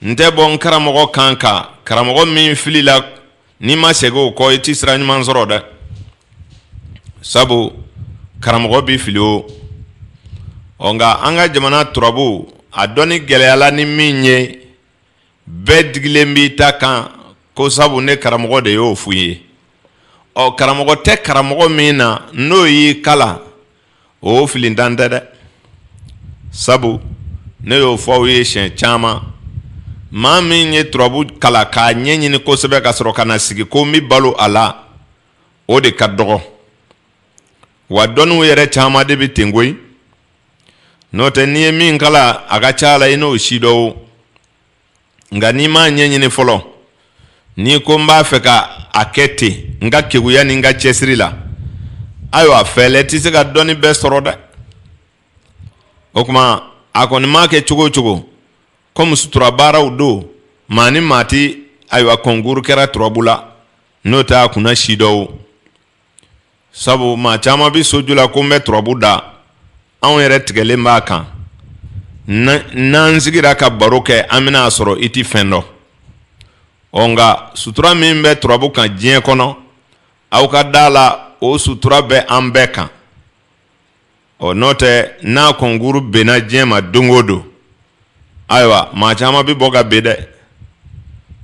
n tɛ bɔ n karamɔgɔ kan kan karamɔgɔ min filila n'i ma segin o kɔ i tɛ sira ɲuman sɔrɔ dɛ sabu karamɔgɔ bɛ fili o ɔ nka an ka jamana turabu a dɔnni gɛlɛyala ni min ye bɛɛ digilen b'i ta kan ko sabu ne karamɔgɔ de y'o fɔ n ye ɔ karamɔgɔ tɛ karamɔgɔ min na n'o y'i kalan o filintan tɛ dɛ sabu ne y'o fɔ aw ye siɲɛ caman maa min ye turabu kalan k'a ɲɛɲini kosɛbɛ ka sɔrɔ ka na sigi ko n bɛ balo a la o de ka dɔgɔ wa dɔnniw yɛrɛ caman de bɛ ten koyi n'o tɛ n'i ye min kalan a ka ca la i n'o sidɔn o nka n'i m'a ɲɛɲini fɔlɔ n'i ko n b'a fɛ ka a kɛ ten n ka keguya ni n ka cɛsiri la ayiwa fɛɛlɛ tɛ se ka dɔnni bɛɛ sɔrɔ dɛ o kuma a kɔni maa kɛ cogo o cogo kɔmi sutura baaraw don maa ni maa tɛ ayiwa kɔnkuru kɛra turabu la n'o tɛ a kun na sidɔn o sabu maa caman bɛ soju la ko n bɛ turabu da anw yɛrɛ tigɛlen b'a kan n'an sigira ka baro kɛ an bɛna a sɔrɔ i tɛ fɛn dɔn ɔ nka sutura min bɛ turabu kan diɲɛ kɔnɔ aw ka da la o sutura bɛ an bɛɛ kan ɔ n'o tɛ n'a kɔnkuru benna diɲɛ ma don o don ayiwa maa caman bɛ bɔ ka ben dɛ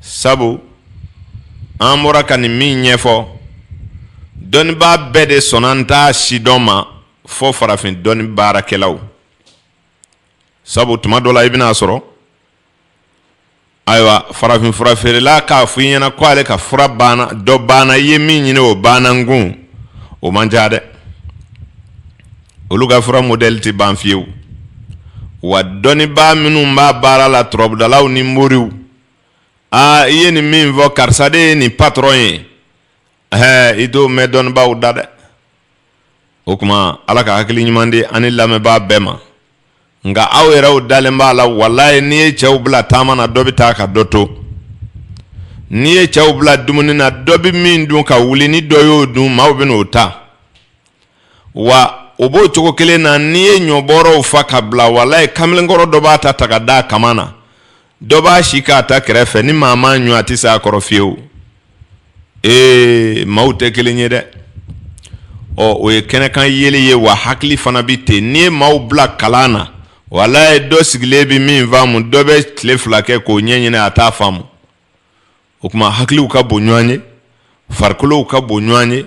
sabu an bɔra ka nin min ɲɛfɔ dɔnnibaa bɛɛ de sɔnna an t'a sidɔn ma fɔ farafin dɔnni baarakɛlaw sabu tuma dɔ la i bɛna a sɔrɔ ayiwa farafin fura feerela k'a fɔ i ɲɛna ko ale ka fura banna dɔ banna i ye min ɲini o banna n kun o man ca dɛ olu ka fura modɛli tɛ ban fiyewu wa dɔnnibaa minnu b'a baara la turabudalaw ni moriw aa i ye nin min fɔ karisa de ye nin patɔrɔn ye ɛɛ i t'o mɛn dɔnnibaaw da dɛ o tuma ala ka hakili ɲuman di an ni lamɛnbaa bɛɛ ma nka aw yɛrɛw dalen b'a la walayi n'i ye cɛw bila taama na dɔ bɛ taa ka dɔ to n'i ye cɛw bila dumuni na dɔ bɛ min dun ka wuli ni dɔ y'o dun maaw bɛ n'o ta wa o b'o cogo kelen na n'i ye ɲɔbɔrɔw fa ka bila walayi kamalenkɔrɔ dɔ b'a ta ta ka d'a kaman na dɔ b'a sigi a ta kɛrɛfɛ ni maa m'a ɲun a tɛ se a kɔrɔ fiyewu ee maaw tɛ kelen ye dɛ ɔ o ye kɛnɛkan yeli ye wa hakili fana bɛ ten n'i ye maaw bila kalan na walayi dɔ sigilen bɛ min faamu dɔ bɛ tile fila kɛ k'o ɲɛɲini a t'a faamu o tuma hakiliw ka bon ɲɔgɔn ye farikolow ka bon ɲɔgɔn ye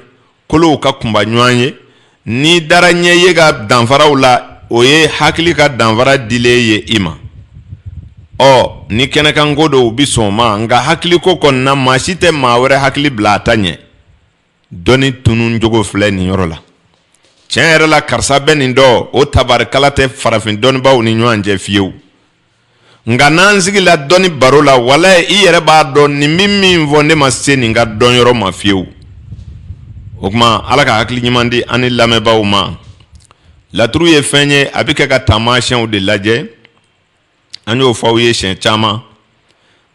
kolow ka kunba ɲɔgɔn ye n'i dara ɲɛ ye ka danfaraw la o ye hakili ka danfara dilen ye i ma ɔ ni kɛnɛkanko don u bɛ sɔn a ma nka hakiliko kɔni na maa si tɛ maa wɛrɛ hakili bila a ta ɲɛ dɔnni tununcogo filɛ nin yɔrɔ la tiɲɛ yɛrɛ la karisa bɛ nin dɔn o tabarikala tɛ farafin dɔnnibaw ni ɲɔgɔn cɛ fiyewu nka n'an sigila dɔnni baro la walayi i yɛrɛ b'a dɔn nin bɛ min fɔ ne ma se nin ka dɔnyɔrɔ ma fiyewu o tuma ala ka hakili ɲuman di an ni lamɛnbaaw ma laturu ye fɛn ye a bɛ kɛ ka taamasiyɛnw de lajɛ an y'o fɔ aw ye siɲɛ caman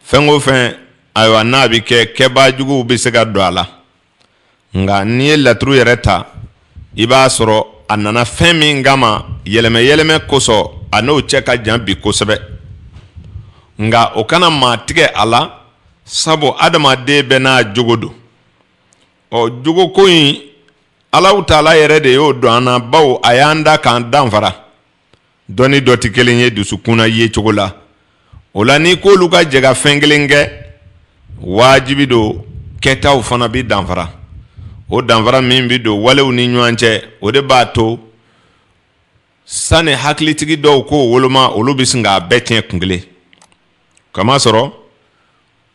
fɛn o fɛn ayiwa n'a bɛ kɛ kɛbaajuguw bɛ se ka don a la nka n'i ye laturu yɛrɛ ta i b'a sɔrɔ a nana fɛn min kama yɛlɛmɛyɛlɛmɛ kosɔn a n'o cɛ ka jan bi kosɛbɛ nka o kana maa tigɛ a la sabu adamaden bɛɛ n'a jogo don ɔ jogoko in alahu taala yɛrɛ de y'o don an na bawo a y'an da k'an danfara dɔ ni dɔ tɛ kelen ye dusukunna yecogo la o la n'i k'olu ka jɛ ka fɛn kelen kɛ wajibi don kɛtaw fana bɛ danfara o danfara min bɛ don walew ni ɲɔgɔn cɛ o de b'a to sani hakilitigi dɔw k'o woloma olu bɛ sin k'a bɛɛ tiɲɛ kun kelen kamasɔrɔ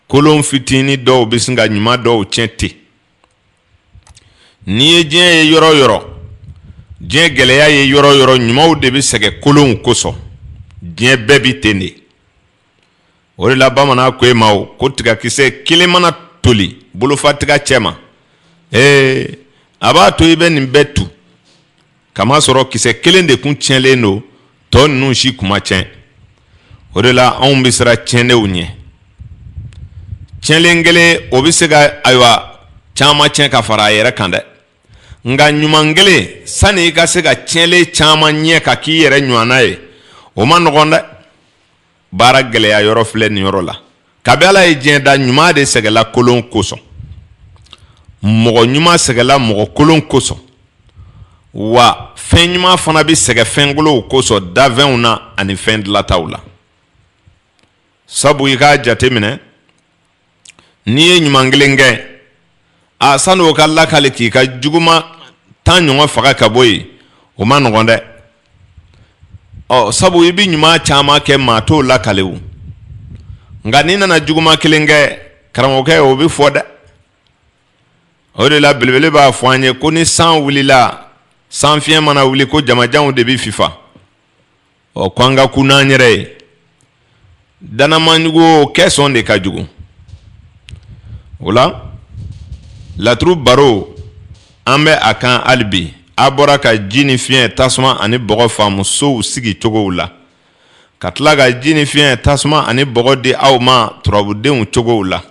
kolon fitinin dɔw bɛ sin ka ɲuman dɔw tiɲɛ ten N'i ye diɲɛ ye yɔrɔ yɔrɔ diɲɛ gɛlɛya ye yɔrɔ yɔrɔ ɲumanw de bɛ sɛgɛn kolonw kosɔn diɲɛ bɛɛ bɛ ten de o de la bamanan ko e ma ko tigakisɛ kelen mana toli bolofa tiga cɛ ma ee a b'a to i bɛ nin bɛɛ tu kamasɔrɔ kisɛ kelen de kun tiɲɛlen don tɔ ninnu si kun ma tiɲɛ o de la anw bɛ siran tiɲɛlenw ɲɛ tiɲɛlen kelen o bɛ se ka ayiwa caman tiɲɛ ka fara a yɛrɛ kan dɛ nka ɲuman kelen sani i ka se ka tiɲɛlen caman ɲɛ ka k'i yɛrɛ ɲɔgɔnna ye o ma nɔgɔn dɛ baara gɛlɛya yɔrɔ filɛ nin yɔrɔ la kabi ala ye diɲɛ da ɲuman de sɛgɛla kolon kosɔn mɔgɔ ɲuman sɛgɛla mɔgɔ kolon kosɔn wa fɛn ɲuman fana bɛ sɛgɛ fɛn kolonw kosɔn dafɛnw na ani fɛn dilataw la sabu i k'a jateminɛ n'i ye ɲuman kelen kɛ a sani o ka lakale k'i ka juguma tan ɲɔgɔn faga ka bɔ yen o ma nɔgɔn dɛ ɔ sabu i bɛ ɲuman caman kɛ maa t'o lakale o nka n'i nana juguma kelen kɛ karamɔgɔkɛ o bɛ fɔ dɛ o de la belebele b'a fɔ an ye ko ni san wulila sanfiɲɛ mana wuli ko jamajanw de bɛ fifa ɔ ko an ka kun n'an yɛrɛ ye danamajugu kɛ sɔn de ka jugu o la laturu baro an bɛ a kan hali bi a bɔra ka ji ni fiɲɛ tasuma ani bɔgɔ faamu sow sigi cogow la ka tila ka ji ni fiɲɛ tasuma ani bɔgɔ di aw ma turabudenw cogow la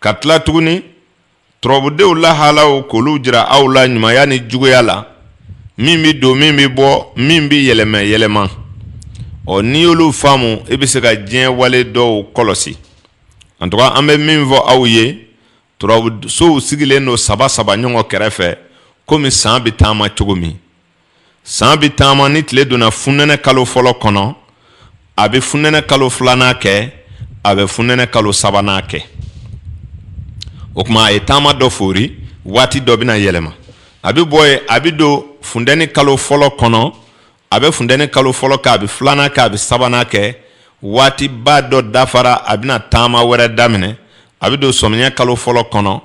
ka tila tuguni Turabudenw lahaalaw k'olu jira aw la ɲumanya ni juguya la min bɛ don min bɛ bɔ min bɛ yɛlɛmɛ yɛlɛma ɔ n'i y'olu faamu i bɛ se ka diɲɛ wale dɔw kɔlɔsi en tout cas an bɛ min fɔ aw ye turabu sow sigilen don saba saba ɲɔgɔn kɛrɛfɛ komi san bɛ taama cogo min san bɛ taama ni tile donna funɛnɛ kalo fɔlɔ kɔnɔ a bɛ funɛnɛ kalo filanan kɛ a bɛ funɛnɛ kalo sabanan kɛ o kuma a ye taama dɔ fori waati dɔ bɛna yɛlɛma a bɛ bɔ yen a bɛ don funtɛni kalo fɔlɔ kɔnɔ a bɛ funtɛni kalo fɔlɔ kɛ a bɛ filanan kɛ a bɛ sabanan kɛ waatiba dɔ dafara a bɛna taama wɛrɛ daminɛ a bɛ don sɔmiyɛ kalo fɔlɔ kɔnɔ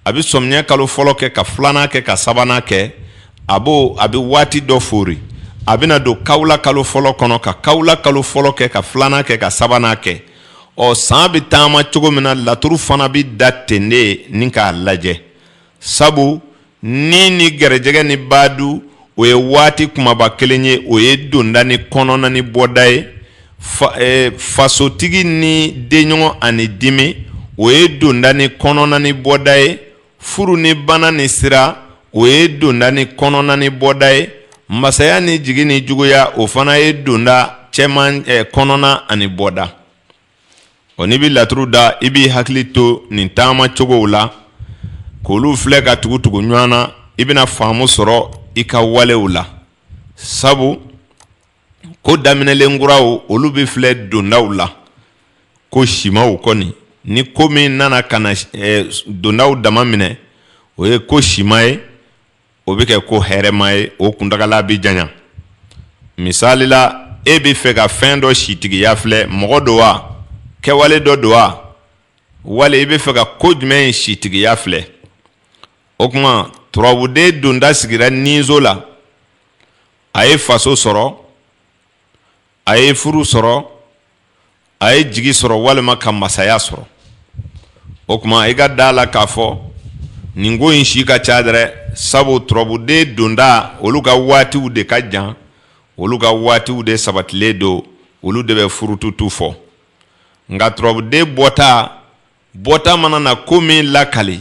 a bɛ sɔmiyɛ kalo fɔlɔ kɛ ka filanan kɛ ka sabanan kɛ a b'o a bɛ waati dɔ fori a bɛna don kawula kalo fɔlɔ kɔnɔ ka kawula kalo fɔlɔ kɛ ka filanan kɛ ka sabanan kɛ ɔ san bɛ taama cogo min na laturu fana bɛ da ten de n'i k'a lajɛ sabu ni ni garijɛgɛ ni badu o ye waati kumaba kelen ye o ye donda ni kɔnɔna ni bɔda ye eh, fasotigi ni denɲɔgɔn ani dimi o ye donda ni kɔnɔna ni bɔda ye furu ni bana ni sira o ye donda ni kɔnɔna ni bɔda ye masaya ni jigi ni juguya o fana ye donda cɛman eh, kɔnɔna ani bɔda ɔ n'i bɛ laturu da i b'i hakili to nin taama cogow la k'olu filɛ ka tugu tugu ɲɔgɔn na i bɛna faamu sɔrɔ i ka walew la sabu ko daminɛlen kuraw olu bɛ filɛ dondaw la ko simaw kɔni ni ko min nana ka na dondaw dama minɛ o ye ko sima ye o bɛ kɛ ko hɛrɛma ye o kuntagala bɛ janya misali la e bɛ fɛ ka fɛn dɔ sitigiya filɛ mɔgɔ don wa kɛwale dɔ don wa wali i bɛ fɛ ka ko jumɛn in sitigiya filɛ o tuma turabuden donta sigira niso la a ye faso sɔrɔ a ye furu sɔrɔ a ye jigi sɔrɔ walima ka masaya sɔrɔ o tuma i ka da a la k'a fɔ nin ko in si ka ca dɛrɛ sabu turabuden donta olu ka waatiw de ka jan olu ka waatiw de sabatilen don olu de bɛ furututu fɔ nka turabuden bɔta bɔta mana na ko min lakali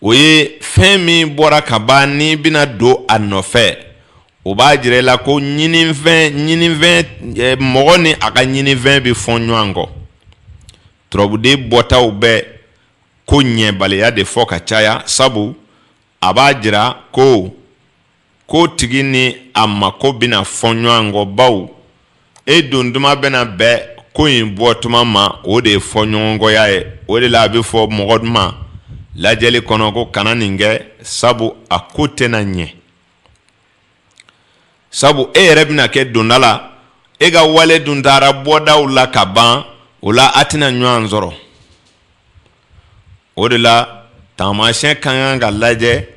o ye fɛn min bɔra ka ban nin bɛna don a nɔfɛ o b'a jira i la ko ɲinifɛn mɔgɔ ni a ka ɲinifɛn bɛ fɔ ɲɔgɔn kɔ turabuden bɔtaw bɛ ko ɲɛbaliya de fɔ ka caya sabu a b'a jira ko ko tigi ni a mako bɛna fɔ ɲɔgɔn kɔ baw e don tuma bɛna bɛn ko in bɔ tuma ma o de ye fɔ ɲɔgɔnkɔya ye o de la a bɛ fɔ mɔgɔ ma lajɛli kɔnɔ ko kana nin kɛ sabu a ko tɛna ɲɛ sabu e yɛrɛ bɛna kɛ donda la e ka wale dun taara bɔdaw la ka ban o la a tɛna ɲɔgɔn sɔrɔ o de la taamasiyɛn ka kan ka lajɛ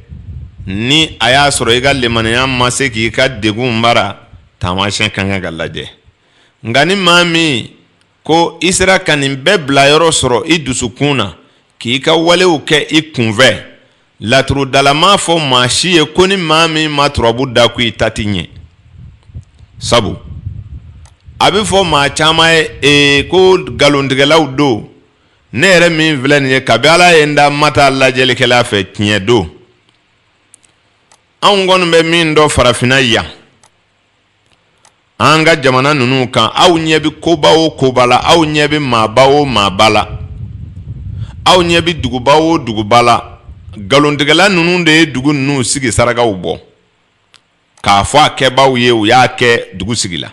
ni a y'a sɔrɔ i ka limaniya ma se k'i ka degun mara taamasiyɛn ka kan ka lajɛ nka ni maa min ko i sera ka nin bɛɛ bila yɔrɔ sɔrɔ i dusukun na k'i ka walew kɛ i kunfɛ laturudala m'a fɔ maa si ye ko ni maa min ma turabu da ko i ta tɛ ɲɛ sabu a bɛ fɔ maa caman ye ee ko nkalontigɛlaw don ne yɛrɛ min filɛ nin ye kabi ala ye n da n ma taa lajɛlikɛla fɛ tiɲɛ don anw kɔni bɛ min dɔn farafinna yan an ka jamana ninnu kan aw ɲɛ bɛ koba o koba la aw ɲɛ bɛ maaba o maaba la aw ɲɛ bɛ duguba o duguba la nkalontigɛla ninnu de ye dugu ninnu sigi sarakaw bɔ k'a fɔ a kɛbaaw ye u y'a kɛ dugu sigi la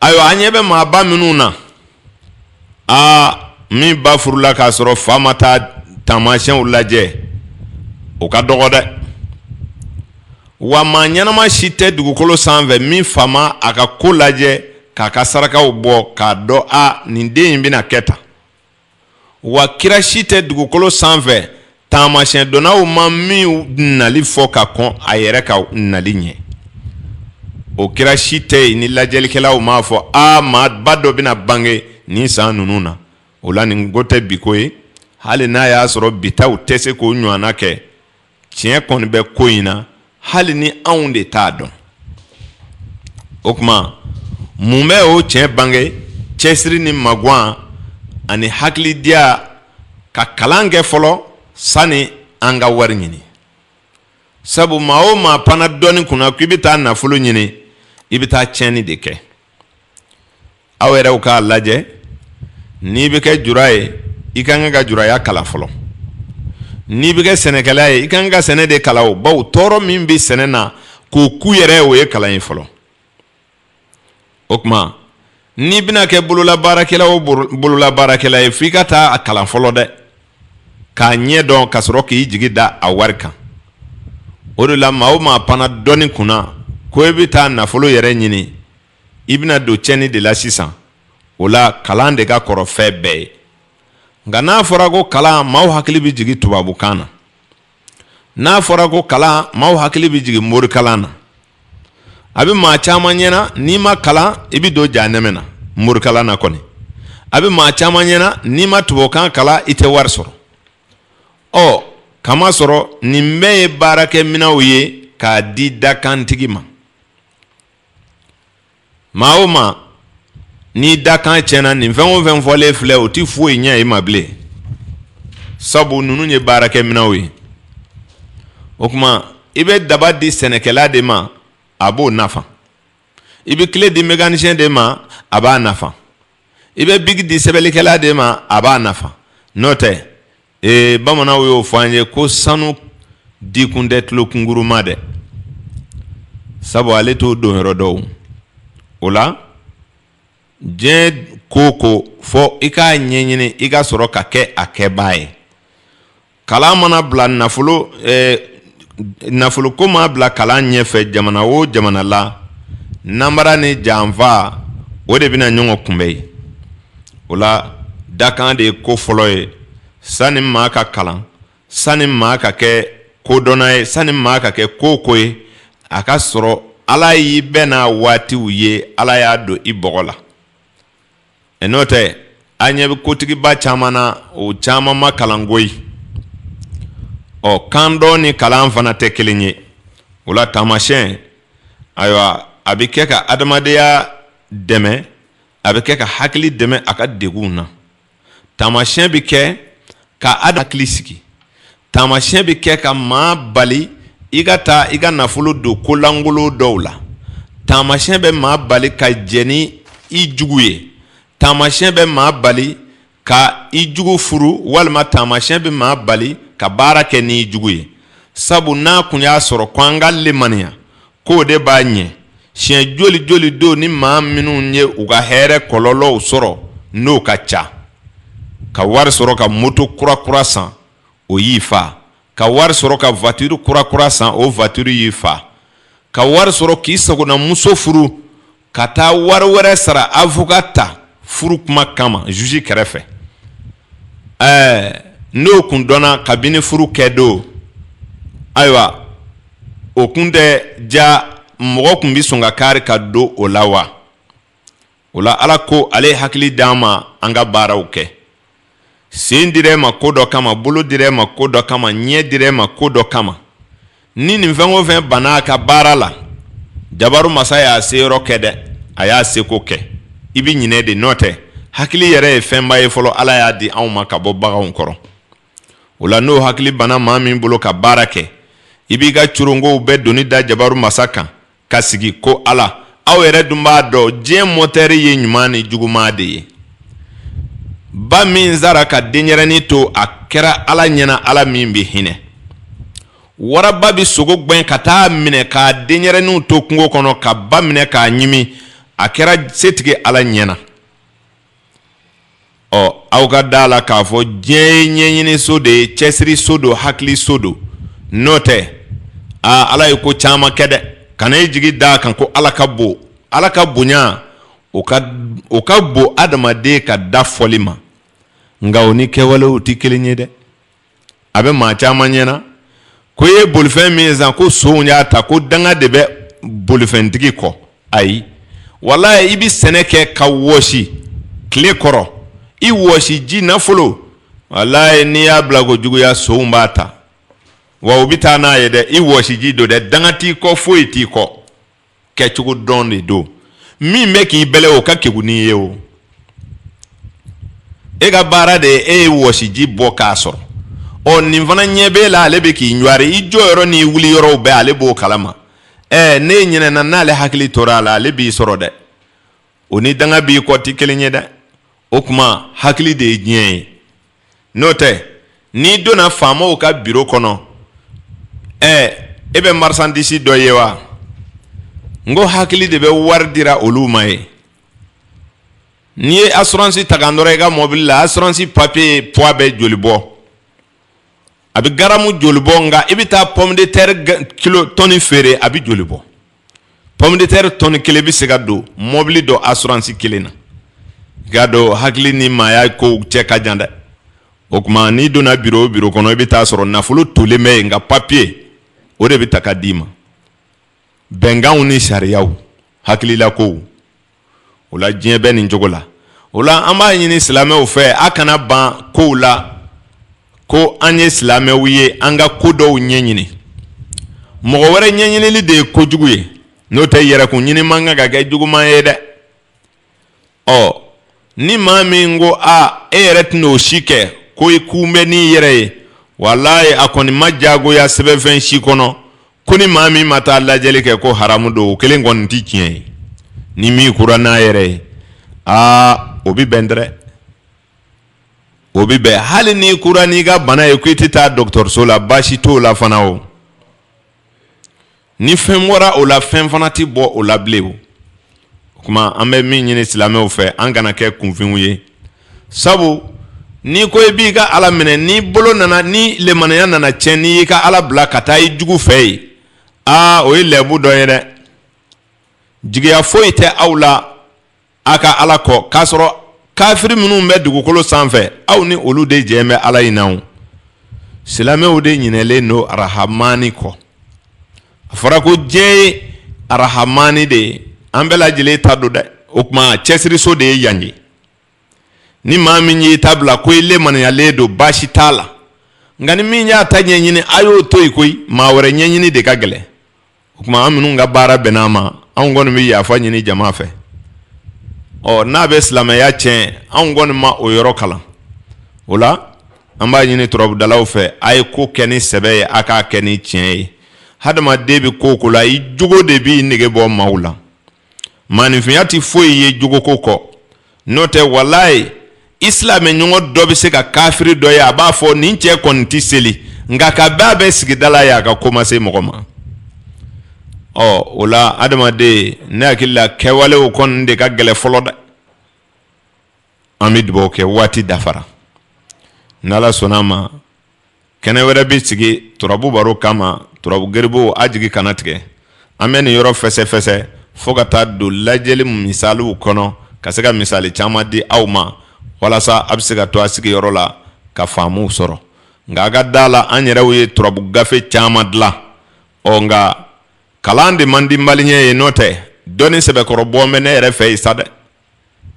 ayiwa an ɲɛ bɛ maaba minnu na aa min ba furula k'a sɔrɔ fa ma taa taamasiyɛnw lajɛ o ka dɔgɔ dɛ wa maa ɲɛnama si tɛ dugukolo sanfɛ min fa ma a ka ko lajɛ k'a ka sarakaw bɔ k'a dɔn a nin den in bɛna kɛ tan wa kira si tɛ dugukolo sanfɛ taamasiyɛndɔnnaw ma min nali fɔ ka kɔn a yɛrɛ ka nali ɲɛ o kira si tɛ yen ni lajɛlikɛlaw m'a fɔ a maaba dɔ bɛna bange nin san ninnu na o la nin ko tɛ bi ko ye hali n'a y'a sɔrɔ bitaw tɛ se k'o ɲɔgɔn kɛ tiɲɛ kɔni bɛ ko in na hali ni anw de t'a dɔn o kuma mun bɛ o tiɲɛ bange cɛsiri ni maguwan ani hakilidiya ka kalan kɛ fɔlɔ sani an ka wari ɲini sabu maa o maa panna dɔnni kunna ko i bɛ taa nafolo ɲini i bɛ taa tiɲɛni de kɛ aw yɛrɛw k'a lajɛ n'i bɛ kɛ jura ye i ka kan ka juraya kalan fɔlɔ n'i bɛ kɛ sɛnɛkɛla ye i ka kan ka sɛnɛ de kalan o bawo tɔɔrɔ min bɛ sɛnɛ na k'o kun yɛrɛ o ye kalan ye fɔlɔ o kuma n'i bɛna kɛ bololabaarakɛla o bololabaarakɛla ye f'i ka taa a kalan fɔlɔ dɛ k'a ɲɛ dɔn ka sɔrɔ k'i jigi da a wari kan o de la maa o maa panna dɔnni kunna ko i bɛ taa nafolo yɛrɛ ɲini i bɛna don tiɲɛni de la sisan o la kalan de ka kɔrɔ fɛn bɛɛ ye nka n'a fɔra ko kalan maaw hakili bɛ jigin tubabukan na n'a fɔra ko kalan maaw hakili bɛ jigin morikalan na a bɛ maa caman ɲɛna n'i ma kalan i bɛ don jahanɛmɛ na morikalan na kɔni a bɛ maa caman ɲɛna n'i ma tubabukan kalan i tɛ wari sɔrɔ ɔ k'a masɔrɔ nin bɛɛ ye baarakɛminɛnw ye k'a di dakantigi ma maa o maa n'i dakan tiɲɛna nin fɛn o fɛn fɔlen filɛ o tɛ foyi ɲɛ i ma bilen sabu ninnu ye baarakɛminɛnw ye o kuma i bɛ daba di sɛnɛkɛla de ma a b'o nafa i bɛ kile di mécanicien de ma a b'a nafa i bɛ biki di sɛbɛnlikɛla de ma a b'a nafa n'o tɛ ee bamananw y'o fɔ an ye ko sanu di kun tɛ tulokungurun ma dɛ sabu ale t'o donyɔrɔ dɔn o la diɲɛ ko o ko fɔ i k'a ɲɛɲini i ka sɔrɔ ka kɛ a kɛbaa ye kalan mana bila nafolo eh, nafoloko maa bila kalan ɲɛfɛ jamana o jamana la nanbara ni janfa o de bɛna ɲɔgɔn kunbɛn yen o la dakan de ye ko fɔlɔ ye sanni maa ka kalan sanni maa ka kɛ kodɔnna ye sanni maa ka kɛ ko o ko ye a ka sɔrɔ ala y'i bɛn n'a waatiw ye ala y'a don i bɔgɔ la ɛ n'o tɛ an ɲɛ bɛ kotigiba caman na o caman ma kalan koyi ɔ kandɔn ni kalan fana tɛ kelen ye o la taamasiyɛn ayiwa a bɛ kɛ ka adamadenya dɛmɛ a bɛ kɛ ka hakili dɛmɛ a ka degun na taamasiyɛn bɛ kɛ ka ada hakili sigi taamasiyɛn bɛ kɛ ka maa bali i ka taa i ka nafolo don kolankolon dɔw la taamasiyɛn bɛ maa bali ka jɛ ni i jugu ye taamasiyɛn bɛ maa bali ka i jugu furu walima taamasiyɛn bɛ maa bali ka baara kɛ n'i jugu ye sabu n'a kun y'a sɔrɔ ko an ka lemaniya k'o de b'a ɲɛ siɲɛ joli joli don ni maa minnu ye u ka hɛrɛ kɔlɔlɔw sɔrɔ n'o ka ca ka wari sɔrɔ ka moto kurakura san o y'i fa ka wari sɔrɔ ka voiture kurakura san o voiture y'i fa ka wari sɔrɔ k'i sagona muso furu ka taa wari wɛrɛ sara avocat ta furu kuma kama juge kɛrɛfɛ ɛɛ n'o kun dɔnna kabini furu kɛ don ayiwa o kun tɛ diya mɔgɔ kun bɛ sɔn ka kari ka don o la wa o la ala ko ale ye hakili d'an ma an ka baaraw kɛ sen dira e ma ko dɔ kama bolo dira e ma ko dɔ kama ɲɛ dira e ma ko dɔ kama ni nin fɛn o fɛn banna a ka baara la jabaru masa y'a se yɔrɔ kɛ dɛ a y'a seko kɛ i bɛ ɲinɛ de n'o tɛ hakili yɛrɛ ye fɛnba ye fɔlɔ ala y'a di anw ma ka bɔ baganw kɔrɔ o la n'o hakili banna maa min bolo ka baara kɛ i b'i ka coronkow bɛɛ doni da jabaru masa kan ka sigi ko ala aw yɛrɛ dun b'a dɔn diɲɛ mɔtɛri ye ɲuman ni juguman de ye ba min sara ka denyɛrɛni to a kɛra ala ɲɛna ala min bɛ hinɛ waraba bɛ sogo gɛn ka taa minɛ k'a denyɛrɛninw to kungo kɔnɔ ka ba minɛ k'a ɲimi a kɛra setigi ala ɲɛna ɔ aw ka da a la k'a fɔ diɲɛ ye ɲɛɲini so de ye cɛsiri so don hakili so don n'o tɛ aa ala ye ko caman kɛ dɛ kana i jigi da a kan ko ala ka bon ala ka bonya o ka o ka bon adamaden ka da fɔli ma nka o ni kɛwalew tɛ kelen ye dɛ a bɛ maa caman ɲɛna ko i ye bolifɛn min san ko sonw y'a ta ko danga de bɛ bolifɛntigi kɔ ayi walayi i bɛ sɛnɛ kɛ ka wɔsi tile kɔrɔ i wɔsiji nafolo walayi n'i y'a bila ko juguya sonw b'a ta wa u bɛ taa n'a ye dɛ i wɔsiji don dɛ danga t'i kɔ foyi t'i kɔ kɛcogo dɔn de don min bɛ k'i bɛlɛ o ka kegu n'i ye o e ka baara de ye e ye wɔsiji bɔ k'a sɔrɔ ɔ nin fana ɲɛ b'e la ale bɛ k'i ɲwari i jɔ yɔrɔ n'i wuli yɔrɔw bɛɛ ale b'o kalama ɛɛ n'e ɲinɛna n'ale hakili tora a la ale b'i sɔrɔ dɛ o ni danga b'i kɔ tɛ kelen ye dɛ o kuma hakili de ye diɲɛ ye n'o tɛ n'i donna faamaw ka biro kɔnɔ ɛɛ e bɛ marchandise dɔ ye wa n ko hakili de bɛ wari dira olu ma yen n'i ye assurance ta ka nɔrɔ i ka mɔbili la assurance papier poids bɛ joli bɔ a bɛ garamu joli bɔ nka i bɛ taa pomme de terre kilo tɔni feere a bɛ joli bɔ Pɔmiditɛri tɔni kelen bɛ se ka don mɔbili dɔ asuransi kelen na i k'a dɔn hakili ni maaya kow cɛ ka jan dɛ o kuma n'i donna biro o biro kɔnɔ i bɛ taa a sɔrɔ nafolo tolen bɛ yen nka papiye o de bɛ ta ka d'i ma bɛnkanw ni sariyaw hakilila kow o la diɲɛ bɛ nin cogo la o la an b'a ɲini silamɛw fɛ a kana ban kow la ko an ye silamɛw ye an ka ko dɔw ɲɛɲini mɔgɔ wɛrɛ ɲɛɲinili de ye kojugu ye n'o tɛ yɛrɛkun ɲini man kan ka kɛ juguman ye dɛ ɔ ni maa min ko a e yɛrɛ tɛna o si kɛ ko i kun bɛ n'i yɛrɛ ye walayi a kɔni ma jagoya sɛbɛnfɛn si kɔnɔ ko ni maa min ma taa lajɛli kɛ ko haramu don o kelen kɔni tɛ tiɲɛ ye ni min kura n'a yɛrɛ ye aa o bɛ bɛn dɛrɛ o bɛ bɛn hali n'i kura n'i ka bana ye ko i tɛ taa dɔgɔtɔrɔso la baasi t'o la fana o ni fɛn bɔra o la fɛn fana tɛ bɔ o la bilen o o kuma an bɛ min ɲini silamɛw fɛ an kana kɛ kunfinw ye sabu n'i ko i b'i ka ala minɛ ni bolo nana ni lemaniya nana cɛn n'i y'i ka ala bila ka taa i jugu fɛ yen aa o ye lɛbu dɔ ye dɛ jigiya foyi tɛ aw la aw ka ala kɔ k'a sɔrɔ kafiri minnu bɛ dugukolo sanfɛ aw ni olu de jɛn bɛ ala in na silamɛw de ɲinɛlen don arahamani kɔ a fɔra ko diɲɛ ye arahamani de ye an bɛɛ lajɛlen ta don dɛ o tuma cɛsiriso de ye yan ye ni maa min y'i ta bila ko i lemaniyalen don baasi t'a la nka ni min y'a ta ɲɛɲini a y'o to yen koyi maa wɛrɛ ɲɛɲini de ka gɛlɛn o tuma an minnu ka baara bɛnna a ma anw kɔni bɛ yafa ɲini jama fɛ ɔ n'a bɛ silamɛya tiɲɛ anw kɔni ma o yɔrɔ kalan o la an b'a ɲini turabudalaw fɛ a ye ko kɛ ni sɛbɛ ye a k'a kɛ ni tiɲɛ ye hadamaden bɛ ko o ko la i jogo de b'i nege bɔ maaw la maanifinya tɛ foyi ye jogoko kɔ n'o tɛ walayi i silamɛ ɲɔgɔn dɔ bɛ se ka kafiri dɔ ye a b'a fɔ nin cɛ kɔni tɛ seli nka kabi a bɛ sigida la yen a ka ko ma se mɔgɔ ma ɔ o la adamaden ne hakili la kɛwalew kɔni de ka gɛlɛn fɔlɔ dɛ an bɛ dugawu kɛ waati dafara n'ala sɔnna a ma Kɛnɛ wɛrɛ bɛ sigi turabu baro kama turabu garibuw a jigi kana tigɛ an bɛ nin yɔrɔ fɛsɛfɛsɛ fo ka taa don lajɛli misaliw kɔnɔ ka se ka misali caman di aw ma walasa a bɛ se ka to a sigiyɔrɔ la ka faamuw sɔrɔ nka a ka da a la an yɛrɛw ye turabu gafe caman dilan ɔ nka kalan de man di maliyɛn ye n'o tɛ dɔnni sɛbɛkɔrɔ bɔ bɛ ne yɛrɛ fɛ yen sa dɛ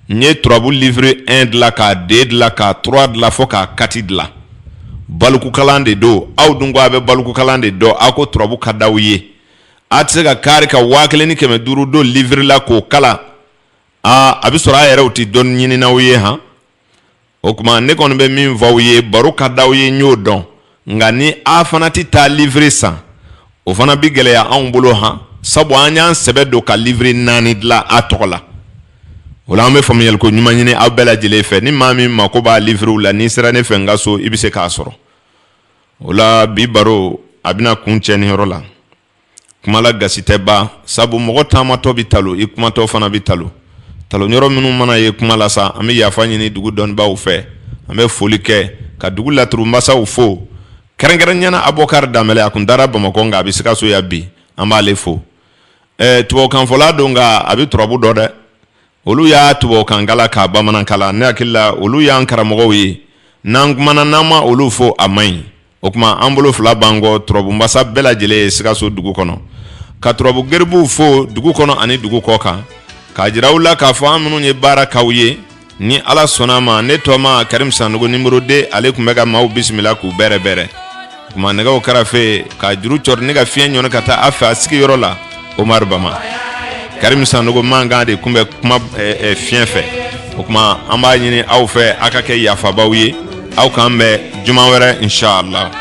n ye turabu livre 1 dilan k'a 2 dilan k'a 3 dilan fo k'a 4 dilan balikukalan de don aw dun ko a bɛ balikukalan de dɔn aw ko turabu ka d'aw ye a tɛ se ka kari ka waa kelen ni kɛmɛ duuru don livre la k'o kalan aa a bɛ sɔrɔ a yɛrɛw tɛ dɔnni ɲininaw ye han o tuma ne kɔni bɛ min fɔ aw ye baro ka d'aw ye n y'o dɔn nka ni a fana tɛ taa livre san o fana bɛ gɛlɛya anw bolo han sabu an y'an sɛbɛ don ka livre naani dilan a tɔgɔ la o la an bɛ faamuyali ko ɲuman ɲini aw bɛɛ lajɛlen fɛ ni maa min mako b'a livrew la n'i sera ne fɛ n ka so i bɛ se k'a sɔrɔ o la bi baro a bɛna kuncɛ nin yɔrɔ la kuma la gasi tɛ ban sabu mɔgɔ taamatɔ bɛ talo i kumatɔ fana bɛ talo talo yɔrɔ minnu mana ye kuma la sa an bɛ yafa ɲini dugu dɔnnibaw fɛ an bɛ foli kɛ ka dugu laturu masaw fo kɛrɛnkɛrɛnyana abubakari danbɛlɛ a tun taara bamakɔ nka a bɛ sikaso yan bi an b'ale fo tubabukanfɔla don nka a bɛ turabu dɔn dɛ olu y'a tubabukan kalan k'a bamanan kalan ne hakili la olu y'an karamɔgɔw ye n'an kumana n'an ma olu fo a man ɲi o tuma an bolo fila b'an kɔ turabu masa bɛɛ lajɛlen ye sikaso dugu kɔnɔ ka turabu garibuw fo dugu kɔnɔ ani dugu kɔ kan k'a jira u la k'a fɔ an minnu ye baara k'aw ye ni ala sɔnna a ma ne tɔma karim sanɔgɔ numéro 2 ale tun bɛ ka maaw bisimila k'u bɛrɛbɛrɛ kumanɛgɛw kɛrɛfɛ ka juru cɔrɔ ni ka fiɲɛ ɲɔni ka taa a fɛ a sigi yɔrɔ la omar bama karim sanɔgɔ mankan de tun bɛ kuma fiɲɛ fɛ o tuma an b'a ɲini aw fɛ aw ka kɛ yafabaaw ye aw k'an bɛn juma wɛrɛ inshallah